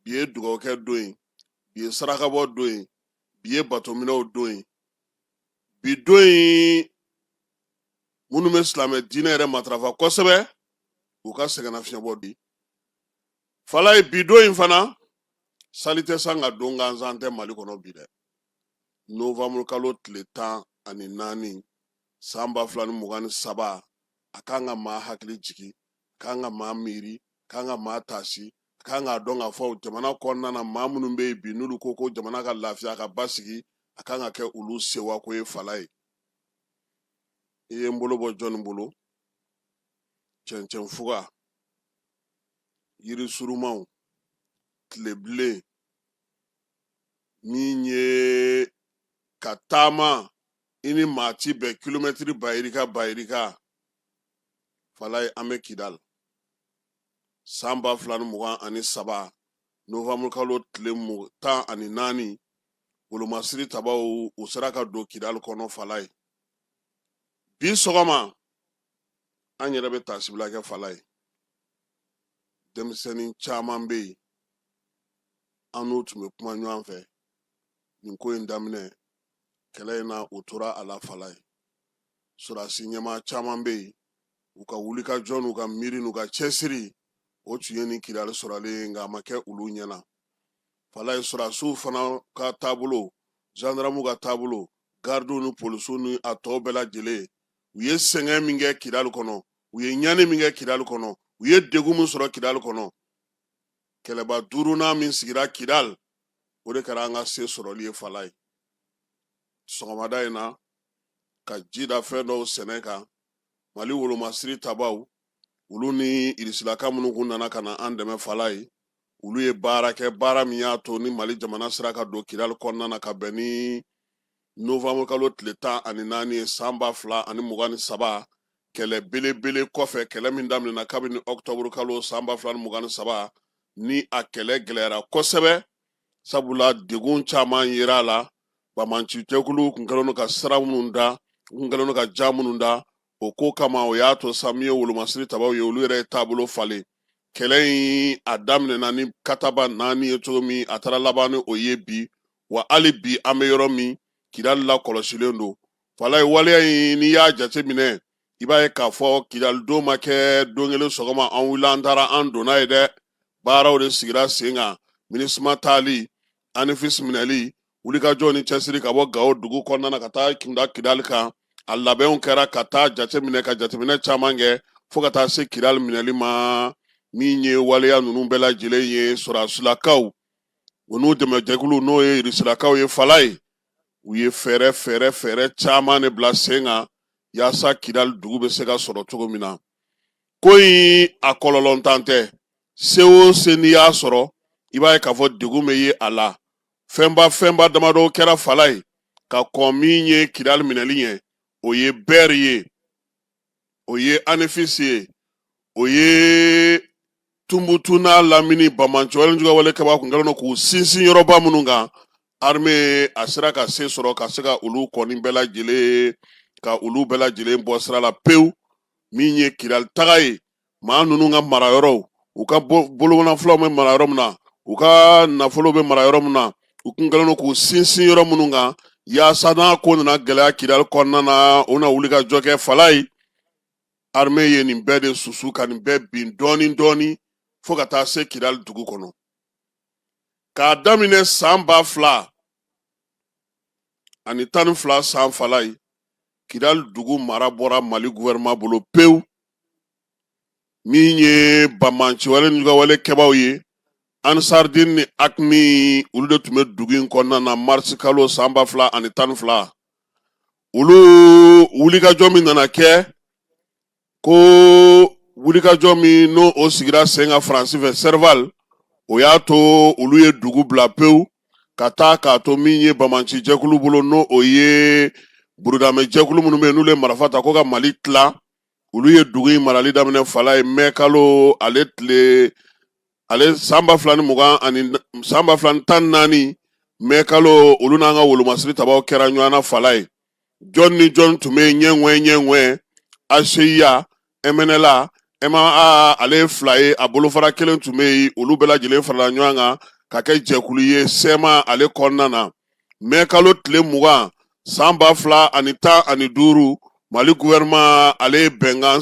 bi ye dugawukɛ don ye bi ye sarakabɔ don ye bi ye batominɛw don ye bi don ye minnu bɛ silamɛ diinɛ yɛrɛ matarafa kosɛbɛ u ka sɛgɛnnafiɲɛbɔ di falaye bi don in fana sali tɛ san ka don gansan tɛ mali kɔnɔ bi dɛ novembre kalo tile tan ani naani san ba fila ni mugan ni saba a kan ka maa hakili jigin kan ka maa miiri a kan ka maa taasi a kan k'a dɔn k'a fɔ jamana kɔnɔna na maa minnu bɛ yen bi n'olu ko ko jamana ka lafiya ka basigi a kan ka kɛ olu sewako ye falaye i ye n bolo bɔ jɔnni bolo cɛncɛn fuga yiri surumanw tilebilen min ye ka taama i ni maa ti bɛn kilomɛtiri ba yirika ba yirika falaye an bɛ kidali san ba fila ni mugan ani saba novembre kalo tile tan ani naani wolomasiri tabaw u sera ka don kidali kɔnɔ falaye bi sɔgɔma an yɛrɛ bɛ taasibila kɛ falaye denmisɛnnin caman bɛ yen an n'u tun bɛ kuma ɲɔgɔn fɛ nin ko in daminɛ kɛlɛ in na u tora a la falaye sɔrɔdasi ɲɛmaa caman bɛ yen u ka wulikajɔ n'u ka miiri n'u ka cɛsiri o tun ye nin kidali sɔrɔlen ye nka a ma kɛ olu ɲɛna falaye sɔrɔdasiw fana ka taabolo zandaramuw ka taabolo garidiw ni polisiw ni a tɔ bɛɛ lajɛlen u ye sɛgɛn min kɛ kidali kɔnɔ u ye ɲani min kɛ kidali kɔnɔ u ye degun min sɔrɔ kidali kɔnɔ kɛlɛba duurunan min sigira kidal o de kɛra an ka se sɔrɔli ye falaye sɔgɔmada in na ka ji da fɛn dɔw sɛnɛ kan mali wolomasiri tabaw olu ni irisilaka minnu kun nana ka na an dɛmɛ falaye olu ye baara kɛ baara min y'a to ni mali jamana sera ka don kidal kɔnɔna na ka bɛn ni novembre kalo tile tan ani naani ye san ba fila ani mugan ni saba kɛlɛ belebele kɔfɛ kɛlɛ min daminɛna kabini octobre kalo san ba fila ni mugan ni saba ni a kɛlɛ gɛlɛyara kosɛbɛ sabula degun caman yera a la bamanci jɛkulu kun kɛlen ka sira minnu da u kun kɛlen ka jan minnu da o ko kama o y'a to sa min ye wolomasiri tabaw ye olu yɛrɛ ye taabolo falen kɛlɛ in a daminɛna ni kataba naani ye cogo min a taara laban ni o ye bi wa hali bi an bɛ yɔrɔ min kidali lakɔlɔsilen don fala ye waleya in n'i y'a jate minɛ i b'a ye k'a fɔ kidali don ma kɛ don kelen sɔgɔma an wulila an taara an donna ye dɛ baaraw de sigira sen kan minisuma taali anefisi minɛli wulikajɔ ni cɛsiri ka bɔ gawo dugu kɔnɔna na ka taa kunda kidali kan a labɛnw kɛra ka taa jateminɛ ka jateminɛ caman kɛ fo ka taa se kidali minɛli ma min ye waleya ninnu bɛɛ lajɛlen ye sɔrɔdasilakaw u n'u dɛmɛjɛkulu n'o ye irisilakaw ye fala ye u ye fɛɛrɛ fɛɛrɛ fɛɛrɛ caman de bila sen kan yaasa kidali dugu bɛ se ka sɔrɔ cogo min na ko in a kɔlɔlɔntan tɛ se o se n'i y'a sɔrɔ i b'a ye k'a fɔ degun bɛ ye a la fɛnba fɛnba damadɔ kɛra fala ye ka kɔn min ye kidali minɛli ɲɛ o ye bɛri ye o ye anefisi ye o ye tunbutu n'a lamini bamanci wale juguya wale kɛbaa kun kɛlen don k'u sinsin yɔrɔba minnu kan arme a sera ka se sɔrɔ ka se ka olu kɔni bɛɛ lajɛlen ka olu bɛɛ lajɛlen bɔ sira la pewu min ye kidali taga ye maa ninnu ka marayɔrɔw u ka bolomanafolow bɛ mara yɔrɔ min na u ka nafolo bɛ mara yɔrɔ min na u kun kɛlen don k'u sinsin yɔrɔ minnu kan yaasa n'a ko nana gɛlɛya kidali kɔnɔna na u na wulikajɔ kɛ fala ye arme ye nin bɛɛ de susu ka nin bɛɛ bin dɔɔni dɔɔni fo ka taa se kidali dugu kɔnɔ k'a daminɛ san ba fila ani tan ni fila san fala ye kidali dugu mara bɔra mali guvɛrɛnman bolo pewu min ye bamanci wale n'u ka wale kɛbaaw ye ansardin ni akmi olu de tun bɛ dugu in kɔnɔna na marisi kalo san ba fila ani tan ni fila olu wulikajɔ min nana kɛ ko wulikajɔ min n'o o sigira sen kan faransi fɛ sɛrival o y'a to olu ye dugu bila pewu ka taa k'a to min ye bamanci jɛkulu bolo n'o o ye burudamɛ jɛkulu minnu bɛ yen n'olu ye marifa ta ko ka mali tila olu ye dugu in marali daminɛ fala ye mɛ kalo ale tile ale san ba fila ni mugan ani san ba fila ni tan naani mɛ kalo olu n'an ka wolomasiri tabaw kɛra ɲɔgɔn na fala ye jɔn ni jɔn tun bɛ ɲɛŋɛ ɲɛŋɛ aseya ɛmɛnɛla ɛma ale ye fila ye a bolofara kelen tun bɛ yen olu bɛɛ lajɛlen farala ɲɔgɔn kan ka kɛ jɛkulu ye sɛma ale kɔnɔna na mɛ kalo tile mugan san ba fila ani tan ani duuru mali guvɛrɛnman ale ye bɛnkan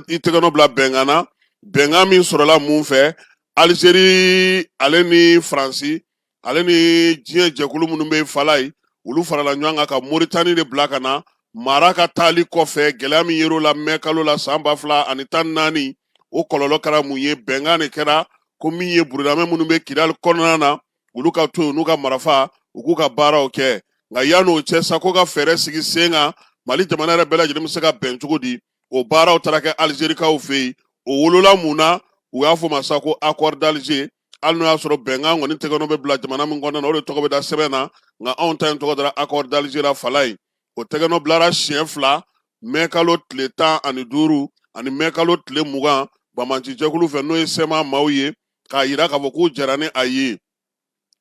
i tɛgɛnɔ bila bɛnkan na bɛnkan min sɔrɔla mun fɛ alizeri ale ni faransi ale ni diɲɛ jɛkulu minnu bɛ fala ye olu farala ɲɔgɔn kan ka moritani de bila ka na mara ka taali kɔfɛ gɛlɛya min yer'o la mɛ kalo la san ba fila ani tan naani o kɔlɔlɔ kɛra mun ye bɛnkan de kɛra ko min ye burudamɛ minnu bɛ kidali kɔnɔna na olu ka to yen n'u ka marafa u k'u ka baaraw kɛ nka yan'o cɛ sa ko ka fɛɛrɛ sigi sen kan mali jamana yɛrɛ bɛɛ lajɛlen bɛ se ka bɛn cogo di o baaraw taara kɛ alizerikaw fɛ yen o wolola mun na u y'a fɔ ma sa ko accord d'alger hali n'o y'a sɔrɔ bɛnkan kɔni tɛgɛnɔ bɛ bila jamana min kɔnɔna na o de tɔgɔ bɛ da sɛbɛn na nka anw ta in tɔgɔ dara accord d'alger la fala ye o tɛgɛnɔ bilara siɲɛ fila mɛkalo tile tan ani duuru ani mɛkalo tile mugan banbaanci jɛkulu fɛ n'o ye sɛma maaw ye k'a yira k'a fɔ k'u jɛnna ni a ye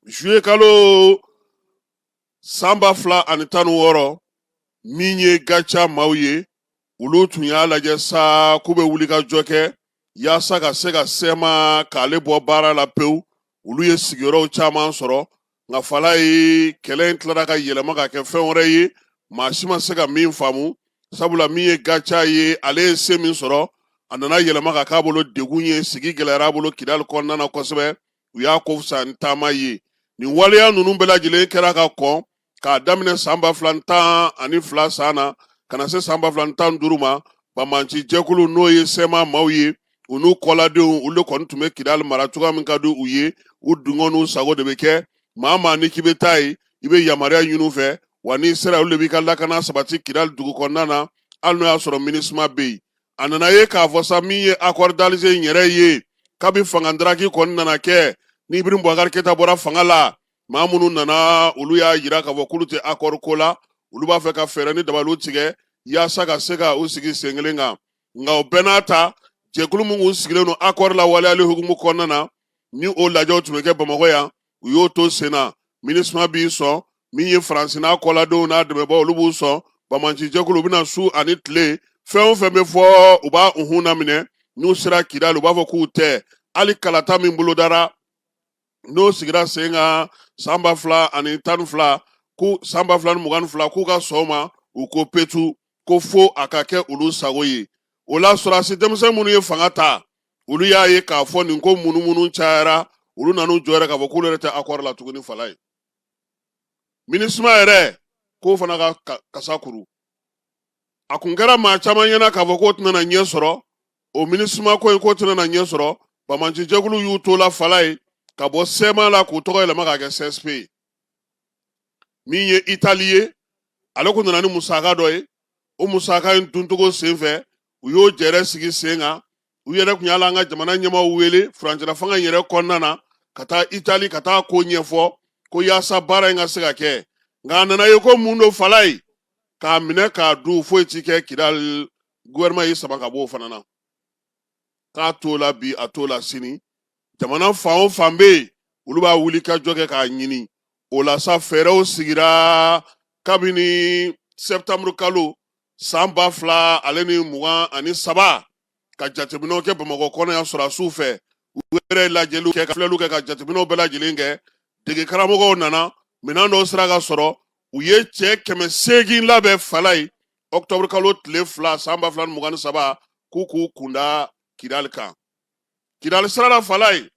juye kalo san ba fila ani tan ni wɔɔrɔ min ye gaca maaw ye olu tun y'a lajɛ sa k'u bɛ wulikajɔ kɛ yaasa ka se ka sɛma k'ale bɔ baara la pewu olu ye sigiyɔrɔw caman sɔrɔ nka fala ye kɛlɛ in tilara ka yɛlɛma ka kɛ fɛn wɛrɛ ye maa si ma se ka min faamu sabula min ye gaca ye ale ye se min sɔrɔ a nana yɛlɛma ka k'a bolo degun ye sigi gɛlɛyara a bolo kidali kɔnɔna na kosɛbɛ u y'a ko fisa ni taama ye nin waleya ninnu bɛɛ lajɛlen kɛra ka kɔn k'a daminɛ san ba fila ni tan ani fila san na ka na se san ba fila ni tan ni duuru ma banbaanci jɛkulu n'o ye sɛma maaw ye u n'u kɔladenw olu kɔni tun bɛ kidali mara cogoya min ka di u ye u dungɔ n'u sago de bɛ kɛ maa maa ni k'i bɛ taa yen i bɛ yamaruya ɲini u fɛ wa n'i sera olu de b'i ka lakana sabati kidali dugu kɔnɔna na hali n'o y'a sɔrɔ minisuma bɛ yen a nana ye k'a fɔ sa min ye accord d'alger in yɛrɛ ye kabi fangadaraki kɔni nana kɛ ni ibrahim bubakari keyita bɔra fanga la maa minnu nana olu y'a yira k'a fɔ k'olu tɛ akɔri ko la olu b'a fɛ ka fɛɛrɛ ni dabaliw tigɛ yaasa ka se ka u sigi sen kelen kan nka o bɛɛ n'a ta jɛkulu min kun sigilen don akɔri lawaleyali hukumu kɔnɔna na ni o lajɛw tun bɛ kɛ bamakɔ yan u y'o to sen na minisuma b'i sɔn min ye faransi n'a kɔladenw n'a dɛmɛbaaw olu b'u sɔn banbaanci jɛkulu u bɛ na su ani tile fɛn o fɛn bɛ fɔ u b'a unhun laminɛ n'u sera kidali u b'a fɔ k'u tɛ hali kalata min bolodara n'o sigira sen kan san ba fila ani tan ni fila ko san ba fila ni mugan ni fila k'u ka sɔn a ma u ko petu ko fo a ka kɛ olu sago ye o la sɔrɔdasi denmisɛn minnu ye fanga ta olu y'a ye k'a fɔ nin ko munumunu cayara olu nan'u jɔ yɛrɛ k'a fɔ k'olu yɛrɛ tɛ akɔri la tuguni fala ye minisuma yɛrɛ k'o fana ka kasa kuru a kun kɛra maa caman ɲɛna k'a fɔ k'o tɛna na ɲɛ sɔrɔ o minisuma ko in k'o tɛna na ɲɛ sɔrɔ banbaanci jɛkulu y'u to la fala ye ka bɔ sɛma la k'u tɔgɔ yɛlɛma k'a kɛ csp ye min ye itali ye ale kun nana ni musaka dɔ ye o musaka in duncogo sen fɛ u y'o jɛrɛ sigi sen kan u yɛrɛ tun y'ala an ka jamana ɲɛmaaw wele furancɛla fanga yɛrɛ kɔnɔna na ka taa itali ka taa ko ɲɛfɔ ko yaasa baara in ka se ka kɛ nka a nana ye ko mun don falayi k'a minɛ k'a dun foyi ti kɛ kidali guwɛrɛnɛma y'i sama ka b'o fana na k'a t'o la bi a t'o la sini jamana fan o fan bɛ yen olu b'a wuli ka jɔ kɛ k'a ɲini o la sa fɛɛrɛw sigira kabini sɛtanburu kalo san ba fila ale ni mugan ani saba ka jateminɛw kɛ bamakɔ kɔnɔ yan sɔrɔdasiw fɛ u yɛrɛ lajɛliw kɛ ka filɛliw kɛ ka jateminɛw bɛɛ lajɛlen kɛ dege karamɔgɔw nana minɛn dɔw sera ka sɔrɔ u ye cɛ kɛmɛ seegin labɛn falayi ɔkutɔburu kalo tile fila san ba fila ni mugan ni saba k'u k'u kun da kidali kan kidali sira la falayi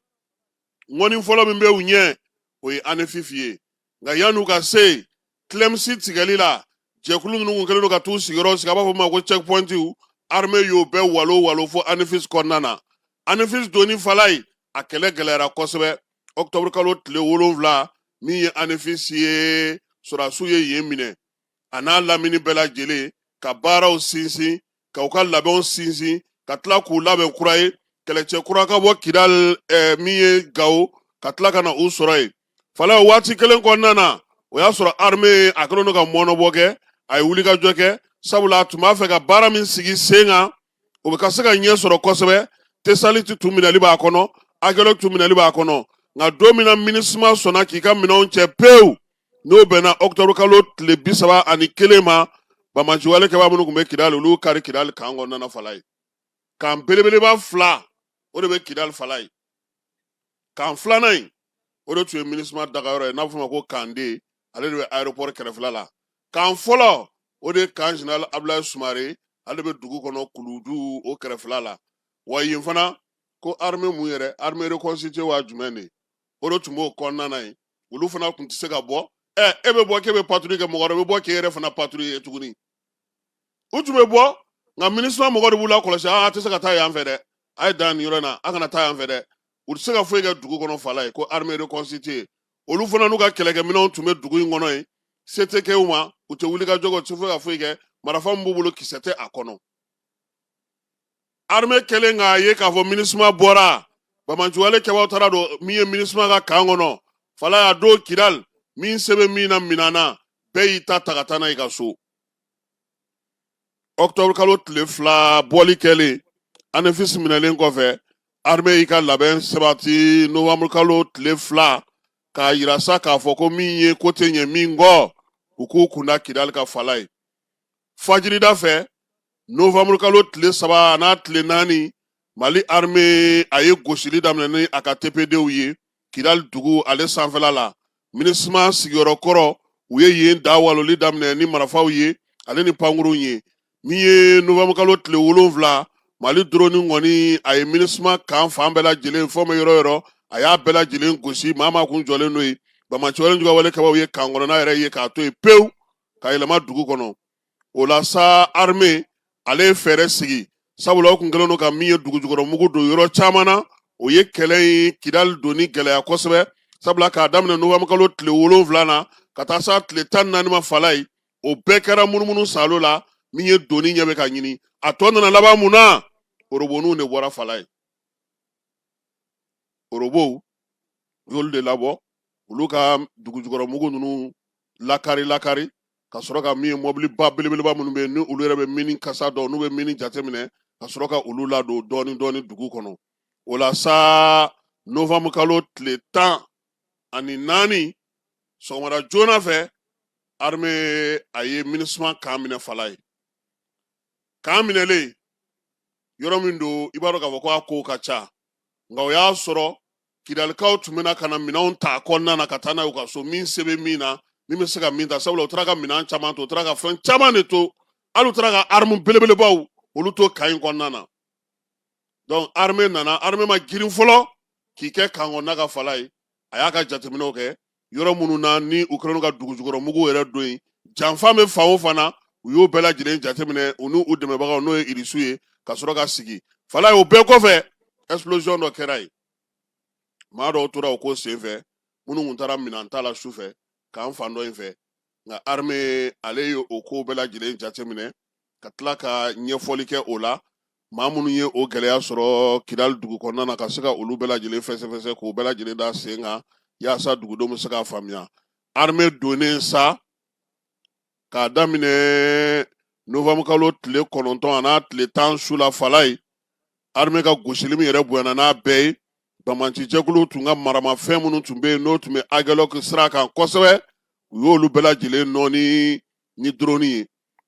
ŋɔni fɔlɔ min bɛ u ɲɛ o ye anefis ye nka yan'u ka se tilɛmisi tigɛli la jɛkulu minnu kun kɛlen don ka t'u sigiyɔrɔ sigi a b'a fɔ ma ko checkpointiw arme y'o bɛɛ walo walo fo anefis kɔnɔna na anefis donni falayi a kɛlɛ gɛlɛyara kosɛbɛ ɔktɔburukalo tile wolonfila min ye anefis ye sɔrɔdasiw ye yen minɛ a n'a lamini bɛɛ lajɛlen ka baaraw sinsin ka u ka labɛnw sinsin ka tila k'u labɛn kura ye kɛlɛcɛ kura ka bɔ kidali eh, min ye gawo ka tila ka na u sɔrɔ yen fala o waati kelen kɔnɔna na o y'a sɔrɔ arme a kɛlen don ka mɔnɔbɔ kɛ a ye wulikajɔ kɛ sabula a tun b'a fɛ ka baara min sigi sen kan o bɛ ka se ka ɲɛ sɔrɔ kosɛbɛ tesaliti tun minɛli b'a kɔnɔ agɛlɔki tun minɛli b'a kɔnɔ nka don min na minisuma sɔnna k'i ka minɛnw cɛ pewu n'o bɛnna ɔkutɔburu kalo tile bi saba ani kelen ma banbaanciwale kɛbaa minnu tun bɛ kidali olu kari kidali kan kɔnɔna falayi kan belebeleba fila o de bɛ kidali falayi kan filanan in o de tun ye minisuma dagayɔrɔ ye n'a fɔ ma ko kan de ale de bɛ aéroport kɛrɛfɛla la kan fɔlɔ o de ye kan général Abdoulaye Soumaré ale bɛ dugu kɔnɔ Kuluju o kɛrɛfɛla la wa yen fana ko armée mun yɛrɛ armée reconstituée wa jumɛn de o de tun b'o kɔnɔna na yen olu fana tun tɛ se ka bɔ ɛ e bɛ bɔ k'e bɛ patrouille kɛ mɔgɔ wɛrɛ bɛ bɔ k'e yɛrɛ fana patrouiller tuguni u tun bɛ bɔ nka minisuma mɔgɔ de b'u lakɔlɔsi a tɛ se ka taa yan fɛ dɛ a ye dan nin yɔrɔ in na a kana taa yan fɛ dɛ u tɛ se ka foyi kɛ dugu kɔnɔ falayi ko armée reconstituée olu fana n'u ka kɛlɛkɛminɛnw tun bɛ dugu in kɔnɔ yen se tɛ kɛ u ma u tɛ wuli ka jɔ kɛ u tɛ foyi ka foyi kɛ marifa min b'u bolo kisɛ tɛ a kɔnɔ armée kɛlen k'a ye k'a fɔ minisuma bɔra banbaanciwale kɛbaaw taara don min ye minisuma ka kan kɔnɔ falayi o don kidali min se bɛ min na minɛn na bɛɛ y'i ta ta ka taa n'a y'i ka so octobre kalo tile fila bɔli kɛlen anefisi minɛlen kɔfɛ arme y'i ka labɛn sabati novembre kalo tile fila k'a yira sa k'a fɔ ko min ye ko tɛ ɲɛ min kɔ u k'u kunda kidali kan fala ye fajirida fɛ novembre kalo tile saba a n'a tile naani mali arme a ye gosili daminɛ ni a ka tpdw ye kidali dugu ale sanfɛla la minisma sigiyɔrɔ kɔrɔ u ye yen da waloli daminɛ ni marafaw ye ale ni pankurunw ye min ye novanburukalo tile wolonfila mali doroni kɔni a ye minisma kan fan bɛɛ lajɛlen fɔ bɛ yɔrɔ yɔrɔ a y'a bɛɛ lajɛlen gosi maa maa kun jɔlen n'o ye banbaanciwale juguwale kɛbaaw ye kan kɔnɔna yɛrɛ ye k'a to yen pewu ka yɛlɛma dugu kɔnɔ o la sa armée ale ye fɛɛrɛ sigi sabula o tun kɛlen don ka min ye dugujukɔrɔmugu don yɔrɔ caman na o ye kɛlɛ in kidali donni gɛlɛya kosɛbɛ sabula k'a daminɛ novanburukalo tile wolonwula na ka taa s'a tile tan ni naani ma fala ye o bɛɛ kɛra munumunu saalo la min ye donni ɲɛ bɛ ka ɲini a tɔ nana laban mun na oroboniw de bɔra fala ye orobow u y'olu de labɔ olu ka dugujukɔrɔmugu ninnu lakari lakari ka sɔrɔ ka min ye mɔbiliba belebeleba minnu bɛ yen ni olu yɛrɛ bɛ mini kasa dɔn n'u bɛ mini jateminɛ ka sɔrɔ ka olu ladon dɔɔni dɔɔni dugu kɔnɔ o la sa novanburu kalo tile tan ani naani sɔgɔmada joona fɛ arime a ye minisma kan minɛ fala ye kan minɛlen yɔrɔ min don i b'a dɔn k'a fɔ ko a kow ka ca nka o y'a sɔrɔ kidalikaw tun bɛ na ka na minɛnw ta kɔnɔna na ka taa n'a ye u ka so min se bɛ min na min bɛ se ka min ta sabula u taara ka minɛn caman to u taara ka fɛn caman de to hali u taara ka armu belebelebaw olu to kan in kɔnɔna na donc arme nana arme ma girin fɔlɔ k'i kɛ kan kɔnɔna ka fala ye a y'a ka jateminɛw kɛ yɔrɔ minnu na ni u kɛlen ka dugujukɔrɔmugu yɛrɛ don yen janfa bɛ fan o fan na u y'o bɛɛ lajɛlen jateminɛ u ni u dɛmɛbagaw n'o ye irisiw ye ka sɔrɔ ka sigi fala ye o bɛɛ kɔfɛ explosion dɔ kɛra yen maa dɔw tora o ko senfɛ minnu tun taara minɛn ta la su fɛ kan fan dɔ in fɛ nka arme ale ye o ko bɛɛ lajɛlen jateminɛ ka tila ka ɲɛfɔli kɛ o la maa minnu ye o gɛlɛya sɔrɔ kidali dugu kɔnɔna na ka se ka olu bɛɛ lajɛlen fɛsɛfɛsɛ k'o bɛɛ lajɛlen da sen kan yaasa dugudenw bɛ se k'a faamuya arme donnen sa k'a daminɛ novembre kalo tile kɔnɔntɔn a n'a tile tan su la fala ye arme ka gosili min yɛrɛ bonyana n'a bɛɛ ye banbaancijɛkulu tun ka maramafɛn minnu tun bɛ yen n'o tun bɛ agɛlɔki sira kan kosɛbɛ u y'olu bɛɛ lajɛlen nɔɔni ni droni ye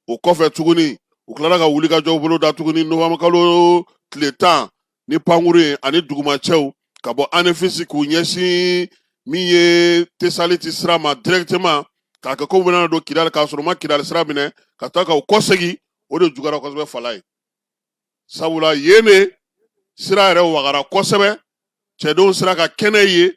o kɔfɛ tuguni u tilara ka wulikajɔw boloda tuguni nowanburukalo tile tan ni pankurun ye ani dugumacɛw ka bɔ anefisi k'u ɲɛsin min ye tesaliti sira ma direktema k'a kɛ ko u bɛna don kidali k'a sɔrɔ u ma kidali sira minɛ ka taa ka u kɔsegi o de juguyara kosɛbɛ falayi sabula yen de sira yɛrɛ wagara kosɛbɛ cɛdenw sera ka kɛnɛ ye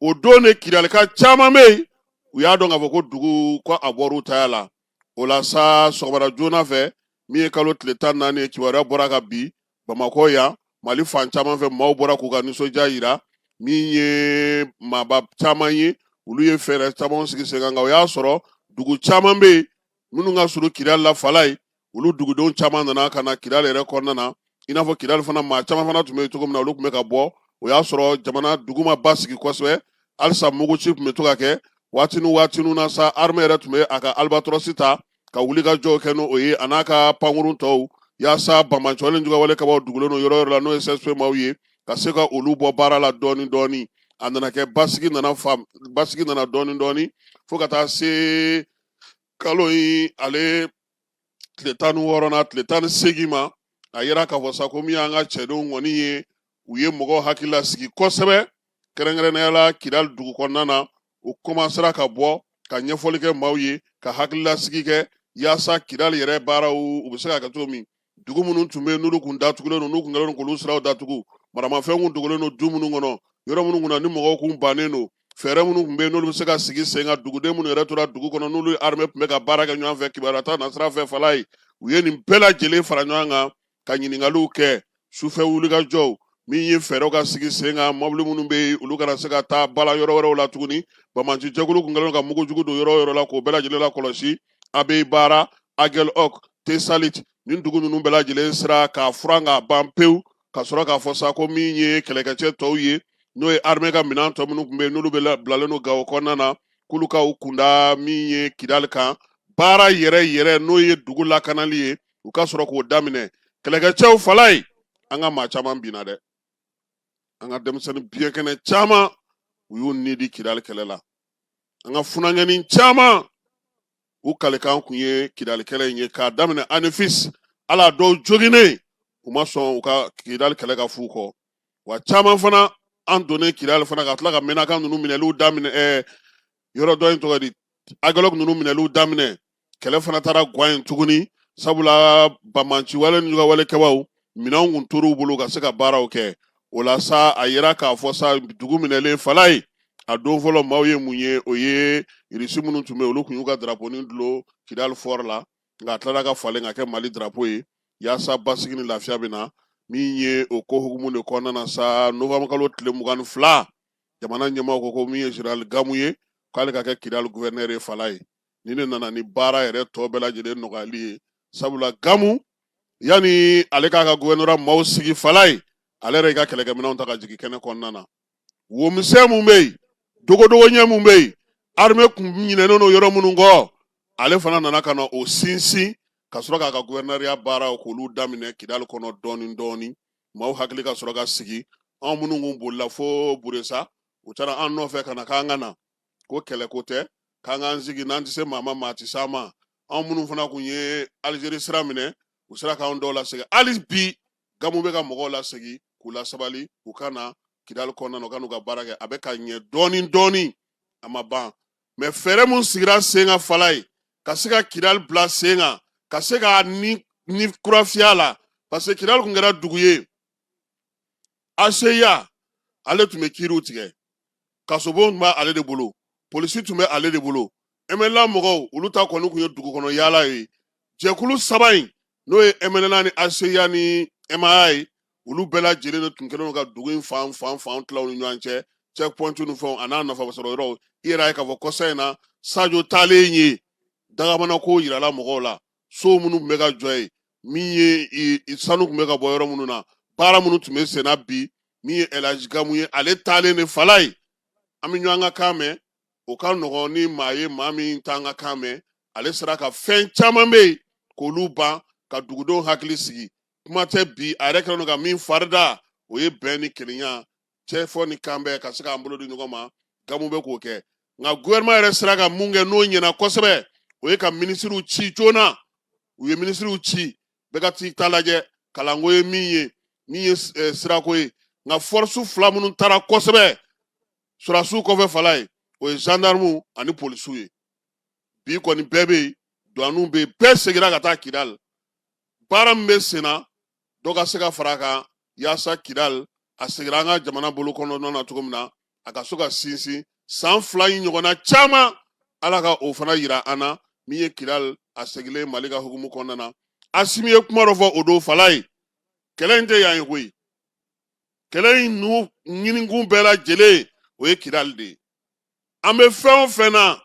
o don de kidalika caman bɛ yen u y'a dɔn k'a fɔ ko dugu ko a bɔr'u taya la o la sa sɔgɔmada joona fɛ min ye kalo tile tan naani ye kibaruya bɔra kabi bamakɔ yan mali fan caman fɛ maaw bɔra k'u ka nisɔndiya yira min ye maaba caman ye olu ye fɛɛrɛ caman sigi sen kan nka o y'a sɔrɔ dugu caman bɛ yen minnu ka surun kidali la falayi olu dugudenw caman nana ka na kidali yɛrɛ kɔnɔna na i n'a fɔ kidali fana maa caman fana tun bɛ yen cogo min na olu tun bɛ ka bɔ o y'a sɔrɔ jamana dugu ma basigi kosɛbɛ halisa muguci tun bɛ to ka kɛ waati ni waati na sa arme yɛrɛ tun bɛ a ka alibatɔrɔsi ta ka wulikajɔw kɛ n'o ye a n'a ka pankurun tɔw yaasa banbaanci juguwale kɛbaaw dogolen don yɔrɔ yɔrɔ la n'o ye sɛsipe maaw ye ka se ka olu bɔ baara la dɔɔni dɔɔni a nana kɛ basigi nana dɔɔni dɔɔni fo ka taa se kalo in ale tile tan ni wɔɔrɔ na tile tan ni seegin ma a yira k'a fɔ sa ko min y'an ka cɛdenw kɔni ye u ye mɔgɔw hakili lasigi kosɛbɛ kɛrɛnkɛrɛnnenya la kidali dugu kɔnɔna na u kɔmansera ka bɔ ka ɲɛfɔli kɛ maaw ye ka hakililasigi kɛ yaasa kidali yɛrɛ baaraw u bɛ se ka kɛ cogo min dugu minnu tun bɛ yen n'olu kun datugulen don n'u kun kɛlen don k'olu siraw datugu maramafɛn kun dogolen don du minnu kɔnɔ yɔrɔ minnu kunna ni mɔgɔw kun bannen don fɛɛrɛ minnu tun bɛ yen n'olu bɛ se ka sigi sen kan duguden minnu yɛrɛ tora dugu kɔnɔ n'olu armée tun bɛ ka baara kɛ ɲɔgɔn fɛ kibaruya ta nasira fɛ falayi u ye nin bɛɛ lajɛlen fara ɲɔgɔn kan ka ɲininkaliw kɛ sufɛ wulikajɔw min ye fɛɛrɛw ka sigi sen kan mɔbili minnu bɛ yen olu kana se ka taa bala yɔrɔ wɛrɛw la tuguni banbaanci jɛkulu tun kɛlen ka mugujugu don yɔrɔ yɔrɔ la k'o bɛɛ lajɛlen lakɔlɔsi abeyibara agɛlɔk tesalit nin dugu ninnu bɛɛ lajɛlen sera ka furan ka ban pewu ka sɔrɔ k'a fɔ sa ko min ye kɛlɛkɛcɛ tɔw ye n'o ye armée ka minɛn tɔ minnu tun bɛ yen n'olu bɛɛ bilalen don gawo kɔnɔna na k'olu ka u kun da min ye kidali kan baara yɛrɛ yɛrɛ n'o ye dugu lakanali ye u ka sɔrɔ k'o daminɛ kɛlɛkɛcɛw falayi an ka maa caman binna dɛ an ka denmisɛnnin biyɛnkɛnɛ caman u y'u ni di kidali kɛlɛ la an ka funankɛnin caman u kalikan kun ye kidali kɛlɛ in ye k'a daminɛ anefisi la dɔw joginnen u ma sɔn u ka kidali kɛlɛ ka f'u kɔ wa caman fana an donnen kidali fana ka tila ka menaka ninnu minɛliw daminɛ ɛɛ yɔrɔ dɔ in tɔgɔ di agɛlɔk ninnu minɛliw daminɛ kɛlɛ fana taara gwan yen tuguni sabula bamanciwale ni ɲɔgɔnwale kɛbaw minɛnw kun tor'u bolo ka se ka baaraw kɛ o la sa a yera k'a fɔ sa dugu minɛlen falaye a don fɔlɔ maaw ye mun ye o ye irisi minnu tun bɛ olu tun y'u ka daraponi dulon kidali fɔri la nka a tilara ka falen ka kɛ mali darapo ye yaasa basigi ni lafiya bɛ na min ye o ko hukumu de kɔnɔna na sa novanburu kalo tile mugan ni fila jamana ɲɛmaaw ko ko min ye general gamu ye k'ale ka kɛ kidali guvɛrinɛri ye falaye nin ne nana ni baara yɛrɛ tɔ bɛɛ lajɛlen nɔgɔyali ye sabula gamu yanni ale k'a ka guvɛrinɔra maaw sigi falaye ale yɛrɛ i ka kɛlɛkɛminɛnw ta ka jigin kɛnɛ kɔnɔna na wo misɛn mun bɛ yen dogodogonin mun bɛ yen arime kun ɲinɛnen don yɔrɔ minnu kɔ ale fana nana ka na o sinsin ka sɔrɔ k'a ka guvɛrinɛriya baaraw k'olu daminɛ kidali kɔnɔ dɔɔni dɔɔni maaw hakili ka sɔrɔ ka sigi anw minnu kun bolila fo buresa u taara an nɔfɛ ka na k'an ka na ko kɛlɛko tɛ k'an k'an sigi n'an tɛ se maa ma maa tɛ se an ma anw minnu fana tun ye alizeri sira minɛ u sera k'an dɔw lasegin hali bi gamu bɛ ka mɔgɔw lasegin k'u lasabali u ka na kidali kɔnɔna u ka n'u ka baara kɛ a bɛ ka ɲɛ dɔɔni dɔɔni a ma ban mɛ fɛɛrɛ min sigira sen kan falaye ka se ka kidali bila sen kan ka se ka ni ni kura fiyɛ a la parce que kidali tun kɛra dugu ye aseya ale tun bɛ kiiriw tigɛ kasobon tun bɛ ale de bolo polisi tun bɛ ale de bolo mnla mɔgɔw olu ta kɔni tun ye dugu kɔnɔ yaala ye jɛkulu saba in n'o ye mnla ni aseya ni emaya ye olu bɛɛ lajɛlen de tun kɛlen don ka dugu in fan fan fan tila ni ɲɔgɔn cɛ checkpoint ni fɛnw a n'a nafa sɔrɔ yɔrɔ i yɛrɛ y'a ye k'a fɔ kɔsa in na sajo taalen yen dakabanako jirala mɔgɔw la so minnu tun bɛ ka jɔ yen min ye sanu tun bɛ ka bɔ yɔrɔ minnu na baara minnu tun bɛ senna bi min ye ɛlaji gamu ye ale taalen de falaye an bɛ ɲɔgɔn ka kan mɛn o ka nɔgɔn ni maa ye maa min t'an ka kan mɛn ale sera ka fɛn caman bɛ yen k'olu ban ka dugudenw hakili sigi kuma tɛ bi a yɛrɛ kɛlen don ka min farida o ye bɛn ni kelenya cɛ fɔ ni kan bɛɛ ka se k'an bolo di ɲɔgɔn ma gamu bɛ k'o kɛ nka gouvernement yɛrɛ sera ka mun kɛ n'o ɲɛna kosɛbɛ o ye ka minisiriw ci joona u ye minisiriw ci bɛɛ ka t'i ta lajɛ kalanko ye min ye min ye eh, sirako ye nka fɔrisi fila minnu taara kosɛbɛ sɔrɔdasiw kɔfɛ falaye o ye zandaramuw ani polisiw ye bi kɔni bɛɛ bɛ yen duwaniw bɛ yen bɛɛ seginna ka taa kidali baara min bɛ sen na dɔ ka se ka fara a kan yaasa kidali a segira an ka jamana bolo kɔnɔna na cogo min na a ka so ka sinsin san fila in ɲɔgɔnna caman ala ka o fana yira an na min ye kidali a segilen mali ka hukumu kɔnɔna na asimi ye kuma dɔ fɔ o don falaye kɛlɛ in tɛ yan ye koyi kɛlɛ ninnu ɲinikun bɛɛ lajɛlen o ye kidali de ye an bɛ fɛn o fɛn na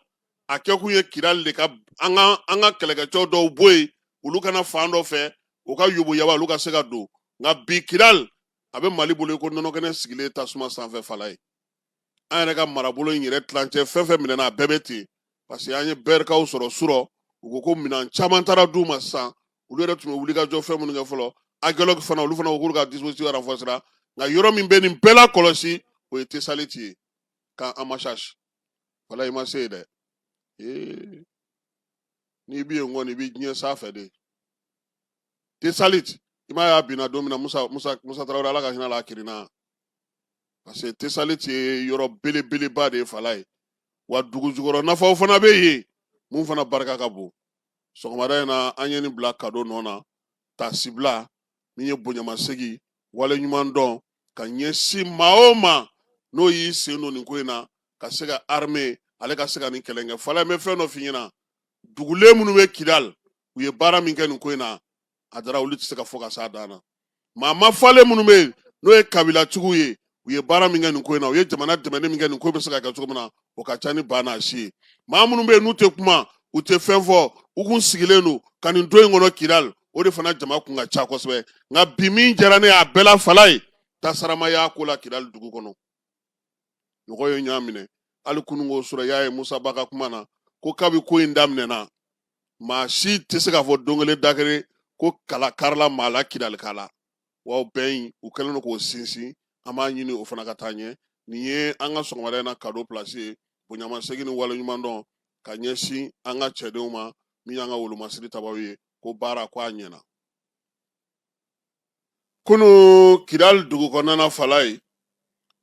a kɛkun ye kidali de ka an ka kɛlɛkɛcɛw dɔw bɔ yen olu ka na fan dɔ fɛ u ka yoboyaba olu ka se ka don nka bi kidali a bɛ mali bolo ko nɔnɔkɛnɛ sigilen tasuma sanfɛ falayi an yɛrɛ ka marabolo in yɛrɛ tilancɛ fɛn fɛn minɛna a bɛɛ bɛ ten parce que an ye bɛrikaw sɔrɔ surɔ u ko ko minɛn caman taara d'u ma sisan olu yɛrɛ tun bɛ wulikajɔ fɛn minnu kɛ fɔlɔ agɛlɔki fana olu fana ko k'olu ka dispositif renforcéra nka yɔrɔ min bɛ nin bɛɛ la kɔlɔsi o ye tesaliti ye camp amachach falayi ma se dɛ ee n'i bi yen kɔni i bi diɲɛ sanfɛ de tesaliti i m'a ye a binna don min na musa tarawele ala ka hinɛ a la a kirinna parce que tesaliti ye yɔrɔ belebeleba de ye falayi wa dugu jukɔrɔ nafaw fana bɛ yen mun fana barika ka bon sɔgɔmada in na an ye nin bila kado nɔ na taasibila min ye bonyamasegin waleɲuman dɔn ka ɲɛsin maa o maa n'o y'i sen don nin ko in na ka se ka armée ale ka se ka nin kɛlɛ kɛ falayi n bɛ fɛn dɔ f'i ɲɛna dugulen minnu bɛ kidali u ye baara min kɛ nin ko in na a dara olu tɛ se ka fɔ ka s'a dan na maa mafalen minnu bɛ yen n'o ye kabilatigiw ye u ye baara min kɛ nin ko in na u ye jamana dɛmɛni min kɛ nin ko bɛ se ka kɛ cogo min na o ka ca ni ba n'a si ye maa minnu bɛ yen n'u tɛ kuma u tɛ fɛn fɔ u kun sigilen don ka nin don in kɔnɔ kidali o de fana jama kun ka ca kosɛbɛ nka bi min diyara ne y'a bɛɛ la falayi tasaramaya ko la kidali dugu kɔnɔ mɔgɔ ye ɲɔgɔn minɛ hali kununko surɔ a y'a ye musa ba ka kuma na ko kabi ko in daminɛna maa si tɛ se k'a fɔ don kelen da kelen ko kala karila maa la kidali kala wa o bɛn in u kɛlen don k'o sinsin an b'a ɲini o fana ka taa ɲɛ nin ye an ka sɔgɔmada in na kado pilasi ye bonyamasegin ni waleɲuman dɔn ka ɲɛsin an ka cɛdenw ma min y'an ka wolomasiri tabaw ye ko baara ko a ɲɛna kunu kidali dugu kɔnɔna falayi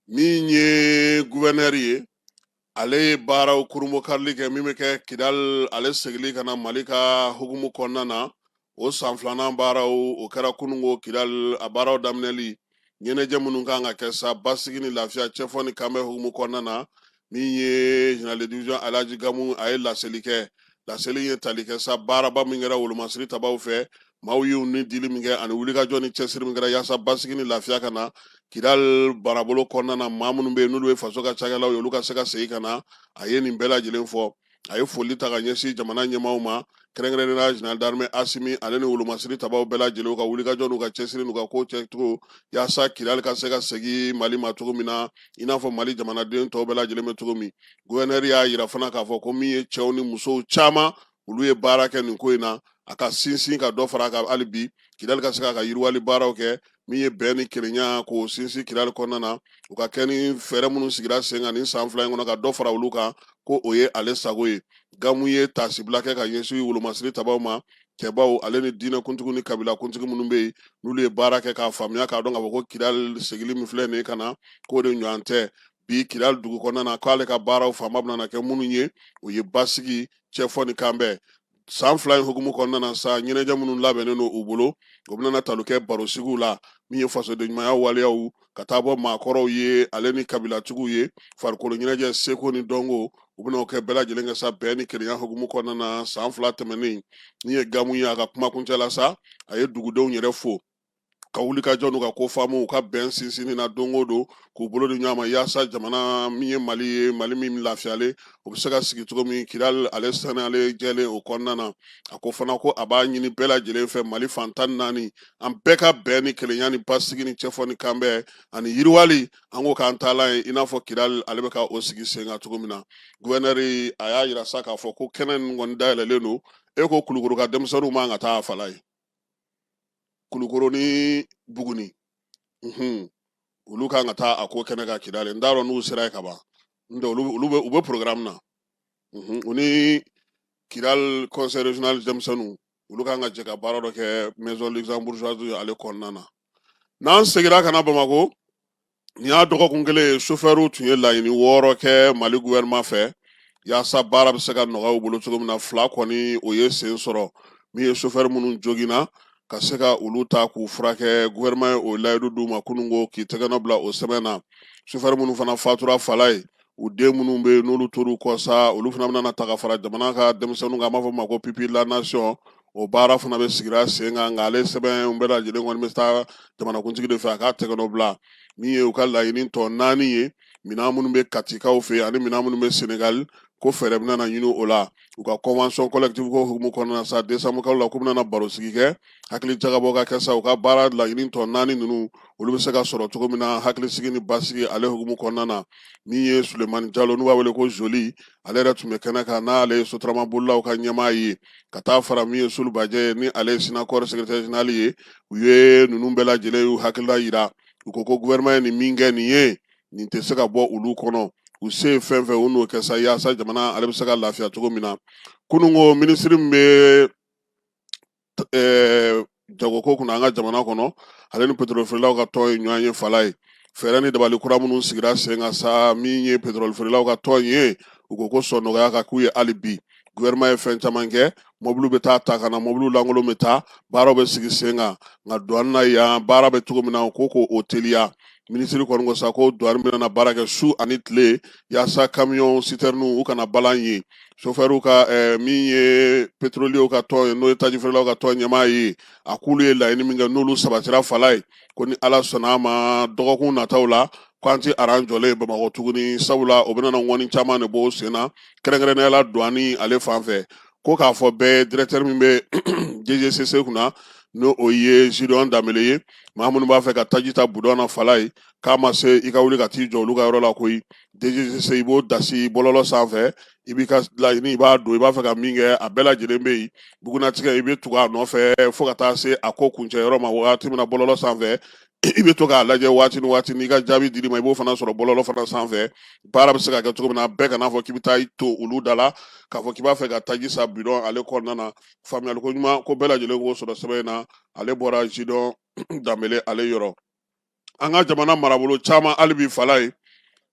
min ye guvɛnɛri ye ale ye baaraw kurunbonkarili kɛ min bɛ kɛ kidali ale segili ka na mali ka hukumu kɔnɔna na o san filanan baaraw o kɛra kununko kidali a baaraw daminɛli ɲɛnajɛ minnu kan ka kɛ sa basigi ni lafiya cɛfɔ ni kanbɛn hukumu kɔnɔna na min ye général de division Alhaji Gamu a ye laseli kɛ laseli in ye tali kɛ sa baaraba min kɛra wolomasiri tabaw fɛ maaw y'u ni dili min kɛ ani wulikajɔ ni cɛsiri min kɛra yaasa basigi ni lafiya ka na kidal marabolo kɔnɔna na maa minnu bɛ yen n'olu ye faso ka cakɛlaw ye olu ka se ka segin ka na a ye nin bɛɛ lajɛlen fɔ a ye foli ta ka ɲɛsin jamana ɲɛmaaw ma kɛrɛnkɛrɛnnenya général d'armée asimi ale ni wolomasiri tabaw bɛɛ lajɛlen ka wulikajɔ n'u ka cɛsiri n'u ka ko kɛcogo yaasa kidali ka se ka segin mali ma cogo min na i n'a fɔ mali jamanaden tɔw bɛɛ lajɛlen bɛ cogo min guvɛnɛri y'a yira fana k'a fɔ ko min ye cɛw ni musow caman olu ye baara kɛ nin ko in na a ka sinsin ka dɔ fara a kan hali bi kidali ka se k'a ka yiriwali baaraw kɛ min ye bɛn ni kelenya k'o sinsin kidali kɔnɔna na u ka kɛ ni fɛɛrɛ minnu sigira sen kan nin san fila in kɔnɔ ka dɔ fara olu kan ko o ye ale sago ye gamu ye tasibila kɛ ka ɲɛsin wolomasiri tabaw ma cɛbaw ale ni diinɛkuntigi ni kabila kuntigi minnu bɛ yen n'olu ye baara kɛ k'a faamuya k'a dɔn k'a fɔ ko kidali segili min filɛ nin ka na k'o de ɲɔgɔn tɛ bi kidali dugu kɔnɔna na k'ale ka baaraw fanba bɛna kɛ minnu ye o ye basigi cɛfɔ ni kanbɛn san fila in hukumu kɔnɔna na sa ɲɛnajɛ minnu labɛnnen don u bolo o bɛna tali kɛ barosigiw la min ye fasodenɲumanya waleyaw ka taa bɔ maakɔrɔw ye ale ni kabilatigiw ye farikolo ɲɛnajɛ seko ni dɔnko u bɛna o kɛ bɛɛ lajɛlen kɛ sa bɛn ni kelenya hukumu kɔnɔna na san fila tɛmɛnen min ye gamu ye a ka kumakuncɛ la sa a ye dugudenw yɛrɛ fo ka wulikajɔ n'u ka ko faamu u ka bɛn sinsinni na don o don k'u bolo di ɲɔgɔn ma yaasa jamana min ye mali ye mali min lafiyalen o bɛ se ka sigi cogo min kidali ale saniyalen jɛlen o kɔnɔna na a ko fana ko a b'a ɲini bɛɛ lajɛlen fɛ mali fan tan ni naani an bɛɛ ka bɛn ni kelenya ni basigi ni cɛfɔ ni kanbɛn ani yiriwali an ko k'an taalan ye i n'a fɔ kidali ale bɛ ka o sigi sen kan cogo min na guvɛnɛri a y'a yira sa k'a fɔ ko kɛnɛ nin kɔni dayɛlɛlen don e ko kulukoro ka denmisɛnninw man ka taa a falaye kulukoro ni buguni mhm. olu kan ka taa a ko kɛɲɛka kidali n t'a dɔn n'u sera yen ka ban n'o tɛ olu bɛ programme na mhm. u ni kidal conseil régional denmisɛnninw olu kan ka jɛ ka baara dɔ kɛ maison luxembourgeoise ale kɔnɔna na n'an segira ka na bamakɔ Nin y'a dɔgɔkun kelen ye sofɛriw tun ye laɲini wɔɔrɔ kɛ mali gouvernement fɛ yaasa baara bɛ se ka nɔgɔya u bolo cogo min na fila kɔni o ye sen sɔrɔ min ye sofɛri minnu joginna ka se ka olu ta k'u furakɛ gouvernement ye o layidu d'u ma kunun ko k'i tɛgɛnɔ bila o sɛbɛn na sofɛri minnu fana fatura falaye u den minnu bɛ yen n'olu tor'u kɔ sa olu fana bɛna ta ka fara jamana ka denmisɛnninw kan an b'a fɔ u ma ko pupilles de la nation o baara fana bɛɛ sigira sen kan nka ale sɛbɛn bɛɛ lajɛlen kɔni bɛ taa jamanakuntigi de fɛ a k'a tɛgɛnɔ bila min ye u ka laɲini tɔ naani ye minɛn minnu bɛ katikaw fɛ ani minɛn minnu bɛ senegali ko fɛɛrɛ bɛna ɲini o la u ka convention collective ko hukumu kɔnɔna na sa décembre kalo la k'u bɛna barosigi kɛ hakilijagabɔ ka kɛ sa u ka baara laɲini tɔ naani ninnu olu bɛ se ka sɔrɔ cogo min na hakilisigi ni basigi ale hukumu kɔnɔna na min ye sulemani jalo n'u b'a wele ko joli ale yɛrɛ tun bɛ kɛnɛ kan n'ale ye sotarama bolilaw ka ɲɛmaa ye ka taa fara min ye sulu bajɛ ye ni ale ye sinakɔri secrétaire général ye u ye ninnu bɛɛ lajɛlen y'u hakilila yira u ko ko gouvernement ye nin min kɛ nin ye nin tɛ se ka bɔ olu kɔnɔ u se ye fɛn fɛn u n'o kɛ sa yaasa jamana ale bɛ se ka lafiya cogo min na kunun ko minisiri min bɛ eh, jagoko kunna an ka jamana kɔnɔ ale ni petrolifeerelaw ka tɔn ye ɲɔgɔn ye falaye fɛɛrɛ ni dabali kura minnu sigira sen kan sa min ye petrolifeerelaw ka tɔn ye u ko ko sɔn nɔgɔya ka k'u ye hali bi guvɛrɛnɛman ye fɛn caman kɛ mɔbiliw bɛ taa ta ka na mɔbiliw lankolon bɛ taa baaraw bɛ sigi sen kan nka duwani na yan baara bɛ cogo min na ko ko o teliya minisiri kɔni ko sa ko duwani bɛna baara kɛ su ani tile yaasa kamiyɔn sitɛrɛniw u kana balan yen sofɛrw ka eh, min ye petroliyew ka tɔn ye n'o ye tajifeerelaw ka tɔn ɲɛmaa ye a k'olu ye laɲini min kɛ n'olu sabatira falayi ko ni ala sɔnna a ma dɔgɔkun nataw la k'an tɛ aran jɔlen ye bamakɔ tuguni sabula o bɛna ŋɔni caman de bɔ o sen na kɛrɛnkɛrɛnnenya la duwani ale fan fɛ ko k'a fɔ bɛɛ dirɛkitɛri min bɛ dgcc kunna n'o o ye zediyɔn danbele ye maa minnu b'a fɛ ka taji ta budɔn na falayi k'a ma se i ka wuli ka t'i jɔ olu ka yɔrɔ la koyi dgcc i b'o dasi bɔlɔlɔ sanfɛ i b'i ka laɲini i b'a don i b'a fɛ ka min kɛ a bɛɛ lajɛlen bɛ yen bugunnatigɛ i bɛ tugu a nɔfɛ fo ka taa se a ko kuncɛ yɔrɔ ma waati min na bɔlɔlɔ sanfɛ i bɛ to k'a lajɛ waati ni waati n'i ka jaabi dil'i ma i b'o fana sɔrɔ bɔlɔlɔ fana sanfɛ baara bɛ se ka kɛ cogo min na bɛɛ kan'a fɔ k'i bɛ taa i to olu da la k'a fɔ k'i b'a fɛ ka taji san bidɔn ale kɔnɔna na faamuyali ko ɲuman ko bɛɛ lajɛlen k'o sɔrɔ sɛbɛn in na ale bɔra zediyɔn danbele ale yɔrɔ an ka jamana marabolo caman hali bi falayi